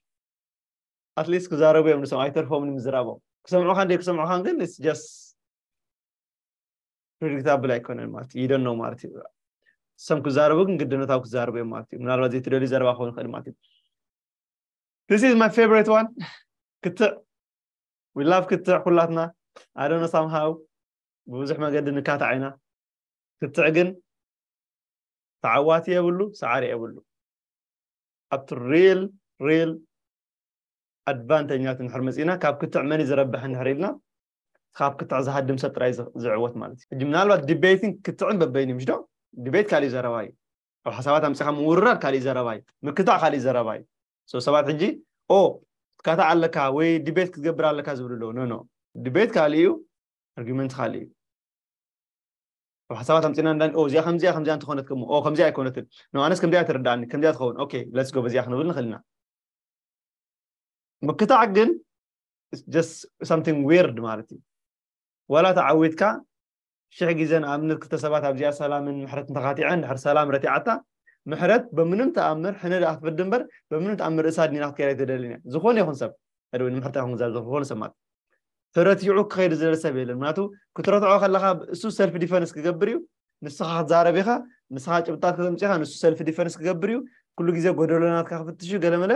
ኣትሊስት ክዛረቡ እዮም ንሰምዑ ኣይተርፎም ንምዝራቦም ክሰምዑኻን ዘይክሰምዑኻን ግን ስ ጀስት ፕሬዲክታብል ኣይኮነን ማለት እዩ ይደኖ ማለት እዩ ሰም ክዛረቡ ግን ግድነታዊ ክዛረቡ እዮም ማለት እዩ ምናልባት ዘይትደልዩ ዘረባ ክኸውን ይኽእል ማለት እዩ This is my favorite one. ክትዕ we love ክትዕ ኩላትና I don't know somehow ብብዙሕ መገዲ ንካታዕ ኢና ክትዕ ግን ተዓዋቲ የብሉ ሰዓሪ የብሉ ኣብቲ ሪል ሪል ኣድቫንተኛት እንድሕር መፂእና ካብ ክትዕ መን ዝረብሕ እንድሕር ኢልና ካብ ክትዕ ዝሃድም ሰብ ጥራይ ዝዕወት ማለት እዩ ሕጂ ምናልባት ዲቤትን ክትዕን በበይኑ ምሽ ዶ ዲቤት ካሊእ ዘረባ እዩ ኣብ ሓሳባት ኣምፂኻ ምውርራር ካሊእ ዘረባ እዩ ምክታዕ ካሊእ ዘረባ እዩ ሰው ሰባት ሕጂ ኦ ትካታዕ ኣለካ ወይ ዲቤት ክትገብር ኣለካ ዝብሉ ኣለዉ ኖኖ ዲቤት ካልእ እዩ ኣርጊመንት ካልእ እዩ ኣብ ሓሳባት ኣምፅና እንዳ እዚኣ ከምዚኣ ከምዚኣ እንተኾነት ከሞ ኦ ከምዚኣ ኣይኮነትን ኖ ኣነስ ከምዚኣ ተረዳእኒ ከምዚኣ ትኸውን ኦኬ ለትስ ጎ በዚኣ ክንብል ንኽእል ኢና ምክታዕ ግን ጀስት ሳምቲንግ ዊርድ ማለት እዩ ዋላ ተዓዊትካ ሽሕ ግዜ ንኣብነት ክልተ ሰባት ኣብዚኣ ሰላምን ምሕረት እንተኻቲዐን ድሕር ሰላም ረቲዓታ ምሕረት በምንም ተኣምር ሕነ ደኣ ክትበድ እምበር በምንም ተኣምር ርእሳ ድኒና ክትከይድ ኣይትደልን እያ ዝኾነ ይኹን ሰብ ወይ ንምሕረት ኣይኹን ዝዛር ዝኾነ ሰብ ማለት ተረቲዑ ክኸይድ ዝደለ ሰብ የለን ምክንያቱ ክትረትዖ ከለካ እሱ ሰልፊ ዲፈንስ ክገብር እዩ ንስኻ ክትዛረብ ኢኻ ንስኻ ጭብጣት ከተምፅኻ ንሱ ሰልፊ ዲፈንስ ክገብር እዩ ኩሉ ግዜ ጎደሎናትካ ክፍትሽ እዩ ገለመለ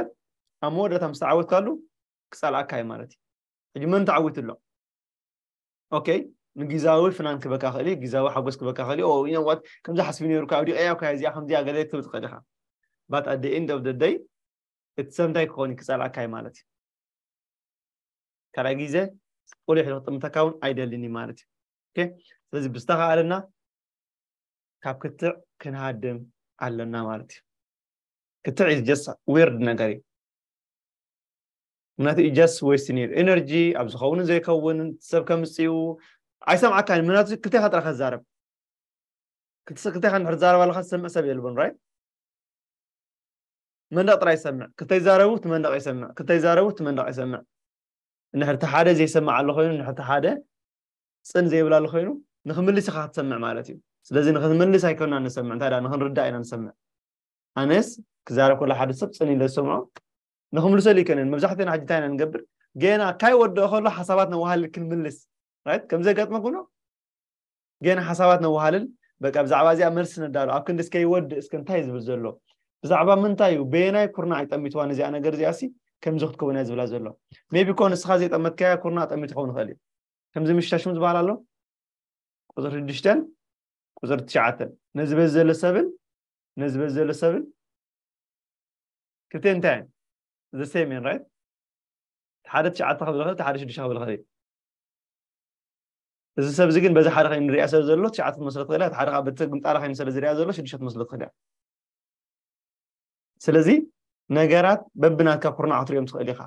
ኣብ መወዳእታ ምስ ተዓወትካሉ ክፀልኣካ እዩ ማለት እዩ ሕጂ መን ተዓዊቱ ኣሎ ኦኬ ንግዛዊ ፍናን ክበካ ክእል ግዛዊ ሓጎስ ክበካ ክእል ዋት ከምዚ ሓስቢ ነሩ ካብ ዲቀያ ኳ እዚኣ ከምዚኣ ገለ ክትብል ትኽእል ኢኻ ባት ኣደ ኢንድ ኦፍ ደደይ እቲ ሰምታይ ክኾን እዩ ክፀልኣካ እዩ ማለት እዩ ካልኣይ ግዜ ቆልዑ ሕደ ክጥምተካ እውን ኣይደልን እዩ ማለት እዩ ስለዚ ብዝተኸኣለና ካብ ክትዕ ክንሃድም ኣለና ማለት እዩ ክትዕ እዩ ጀስ ዊርድ ነገር እዩ ምክንያቱ ጀስ ወይስ ነይሩ ኤነርጂ ኣብ ዝኸውንን ዘይከውንን ሰብ ከምፅኡ ኣይሰምዓካን ምክንያቱ ክልቴኻ ጥራ ከዛረብ ክልቴኻ ንድሕር ዛረባ ኣለካ ዝሰምዕ ሰብ የልቦን ራይት መንደቕ ጥራይ ይሰምዕ ክተይዛረቡ እቲ መንደቕ ይሰምዕ ክተይዛረቡ እቲ መንደቕ ይሰምዕ እንድሕር እቲ ሓደ ዘይሰምዕ ኣሎ ኮይኑ እንድሕር እቲ ሓደ ጽን ዘይብላሉ ኮይኑ ንክምልስ ኢኻ ክትሰምዕ ማለት እዩ ስለዚ ንክንመልስ ኣይኮንና ንሰምዕ እንታይ ደኣ ንክንርዳእ ኢና ንሰምዕ ኣነስ ክዛረብ ከሎ ሓደ ሰብ ጽን ኢለ ዝሰምዖ ንክምልሰሉ ይከነን መብዛሕትኦና ሕጂ እንታይ ኢና ንገብር ገና ካይወድኦ ከሎ ሓሳባት ነዋሃልል ክንምልስ ራይት ከምዘጋጥመ ኩኖ ጌና ሓሳባት ነዋሃልል በቃ ብዛዕባ እዚኣ መልሲ ነዳሉ ኣብ ክንዲ እስከ ይወድእ እስከ እንታይ ዝብል ዘሎ ብዛዕባ ምንታይ እዩ በየናይ ኩርናዕ ይጠሚትዋ ነዚኣ ነገር እዚኣሲ ከምዚ ክትከውን እያ ዝብላ ዘሎ ሜቢ ኮ ንስኻ ዘይጠመትካያ ኩርናዕ ጠሚት ክኸውን ይኽእል እዩ ከምዚ ምሽታሽሙ ዝበሃል ኣሎ ቁፅሪ ሽዱሽተን ቁፅሪ ትሽዓተን ነዚ በዚ ዘሎ ሰብን ነዚ በዚ ዘሎ ሰብን ክልቲኤን እንታይ እየን ዘሴም እየን ራይት ሓደ ትሽዓተ ክብል ይኽእል ሓደ ሽዱሽተ ክብል ይኽእል እዩ እዚ ሰብ እዚ ግን በዚ ሓደ ከይንሪኣ ሰብ ዘሎ ትሽዓተ ትመስሎ ትኽእል እያ ሓደ ከዓ በቲ ግምጣራ ከይኑ ስለ ዝሪኣ ዘሎ ሽዱሽተ ትመስሎ ትኽእል እያ ስለዚ ነገራት በብናትካ ኩርናዕ ክትሪኦም ትኽእል ኢኻ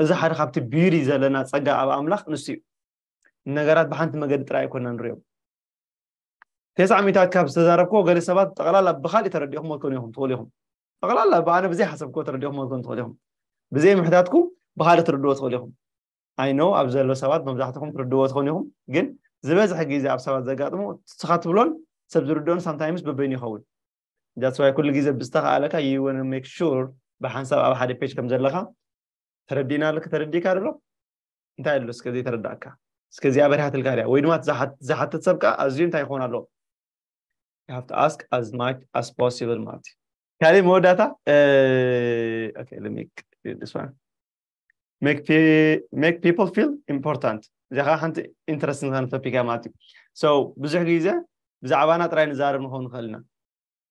እዚ ሓደ ካብቲ ቢዩቲ ዘለና ፀጋ ኣብ ኣምላኽ ንሱ እዩ ነገራት ብሓንቲ መገዲ ጥራይ ኣይኮና ንሪኦም ቴስዓ ሚታት ካብ ዝተዛረብክዎ ገለ ሰባት ጠቕላላ ብካሊእ ተረዲኹም ትኮኑ ኢኹም ትኽእሉ ኢኹም ጠቕላላ ብኣነ ብዘይ ሓሰብክዎ ተረዲኹም ትኮኑ ትኽእሉ ኢኹም ብዘይ ምሕታትኩም ብካልእ ትርድዎ ትኽእሉ ኢኹም I know ኣብዚ ዘለዉ ሰባት መብዛሕትኹም ትርድእዎ ትኾኑ ኢኹም ግን ዝበዝሐ ግዜ ኣብ ሰባት ዘጋጥሙ ንስኻ ትብሎን ሰብ ዝርድኦን ሳምታይምስ በበይኑ ይኸውን that's why ኩሉ ግዜ ብዝተኻኣለካ you wanna make sure ብሓንሳብ ኣብ ሓደ ፔጅ ከም ዘለኻ ተረዲእና ኣለካ ተረዲእካ ዶ እንታይ ኣሎ እስከ ዘይተረዳእካ እስከ እዚኣ በሪሃትልካ ድያ ወይ ድማ ዝሓትት ሰብ ከዓ ኣዝዩ እንታይ ይኸውን ኣለዎ you have to ask as much as possible ማለት እዩ ካልእ መወዳእታ okay let me do this one make make people feel important እዚኣ ከዓ ሓንቲ ኢንትረስት ንዝኾነ ቶፒክ እያ ማለት እዩ ሶ ብዙሕ ግዜ ብዛዕባና ጥራይ ንዛረብ ንኸውን ንኽእል ኢና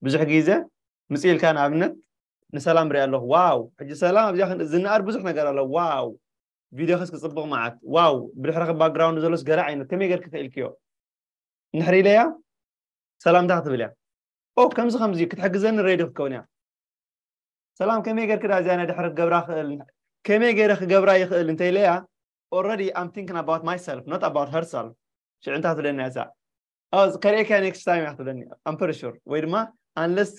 ብዙሕ ግዜ ምፅ ኢልካ ንኣብነት ንሰላም ሪኣ ኣለኹ ዋው ሕጂ ሰላም ኣብዚኣ ዝነኣድ ብዙሕ ነገር ኣሎ ዋው ቪድዮ ከስ ክፅብቕ መዓት ዋው ብድሕረኺ ባክግራውንድ ዘሎስ ገለ ዓይነት ከመይ ገርኪ ክኢልክዮ ንሕሪ ኢለያ ሰላምታ ክትብል እያ ኦ ከምዚ ከምዚ ክትሕግዘኒ ሬድዮ ክትከውን እያ ሰላም ከመይ ገርክ ዳ እዚኣ ናይ ድሕሪ ክገብራ ክእል ከመይ ገይረ ክገብራ ይክእል እንተ ኢለያ already I'm thinking about myself not about herself ሽዑ እንታይ ትብለኒ እዛ ከርእየካ next time እያ ክትብለኒ I'm pretty sure ወይ ድማ unless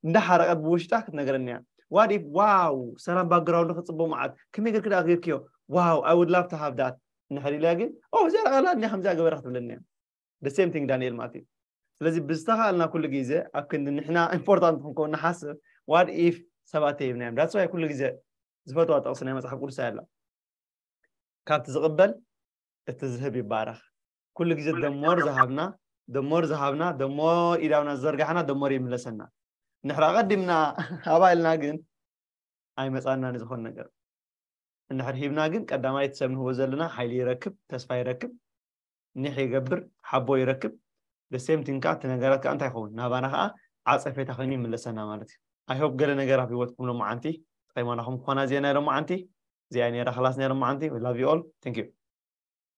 እንዳሓረቀት ብውሽጣ ክትነግረኒ እያ what if ዋው ሰላም ባክግራውንድ ክፅቦ መዓት ከመይ ገርክ ዳ ገርክዮ ዋው I would love to have that እንድሕር ኢለያ ግን ኦ እዚኣ ቃላ እንዲ ከምዚኣ ገበረ ክትብለኒ እያ the same thing ዳንኤል ማለት እዩ ስለዚ ብዝተኻእልና ኩሉ ግዜ ኣብ ክንዲ ንሕና ኢምፖርታንት ክንከውን ንሓስብ ዋት ኢፍ ሰባት ተይብናዮም ዳትስ ዋይ ኩሉ ግዜ ዝፈትዋ ጥቕሲ ናይ መፅሓፍ ቅዱስ ኣላ ካብቲ ዝቕበል እቲ ዝህብ ይባረኽ ኩሉ ግዜ ደሞር ዝሃብና ደሞር ዝሃብና ደሞ ኢዳውና ዝዘርጋሕና ደሞር ይምለሰና ንሕራ ቀዲምና ሃባ ኢልና ግን ኣይመፃና ንዝኾነ ነገር እንድሕር ሂብና ግን ቀዳማይ እቲ ሰብ ንህቦ ዘለና ሓይሊ ይረክብ ተስፋ ይረክብ ኒሕ ይገብር ሓቦ ይረክብ the same thing ከኣ እቲ ነገራት ከኣ እንታይ ይኸውን ናባና ከኣ ዓጸፌታ ኮይኑ ይምለሰና ማለት እዩ i hope ገለ ነገር ኣብ ሂወትኩም ሎማዓንቲ ተቀይማናኹም ክኾና እዚኤን ናይ ሎማዓንቲ እዚኣ እያ ነይራ ክላስ ናይ ሎማዓንቲ we love you all thank you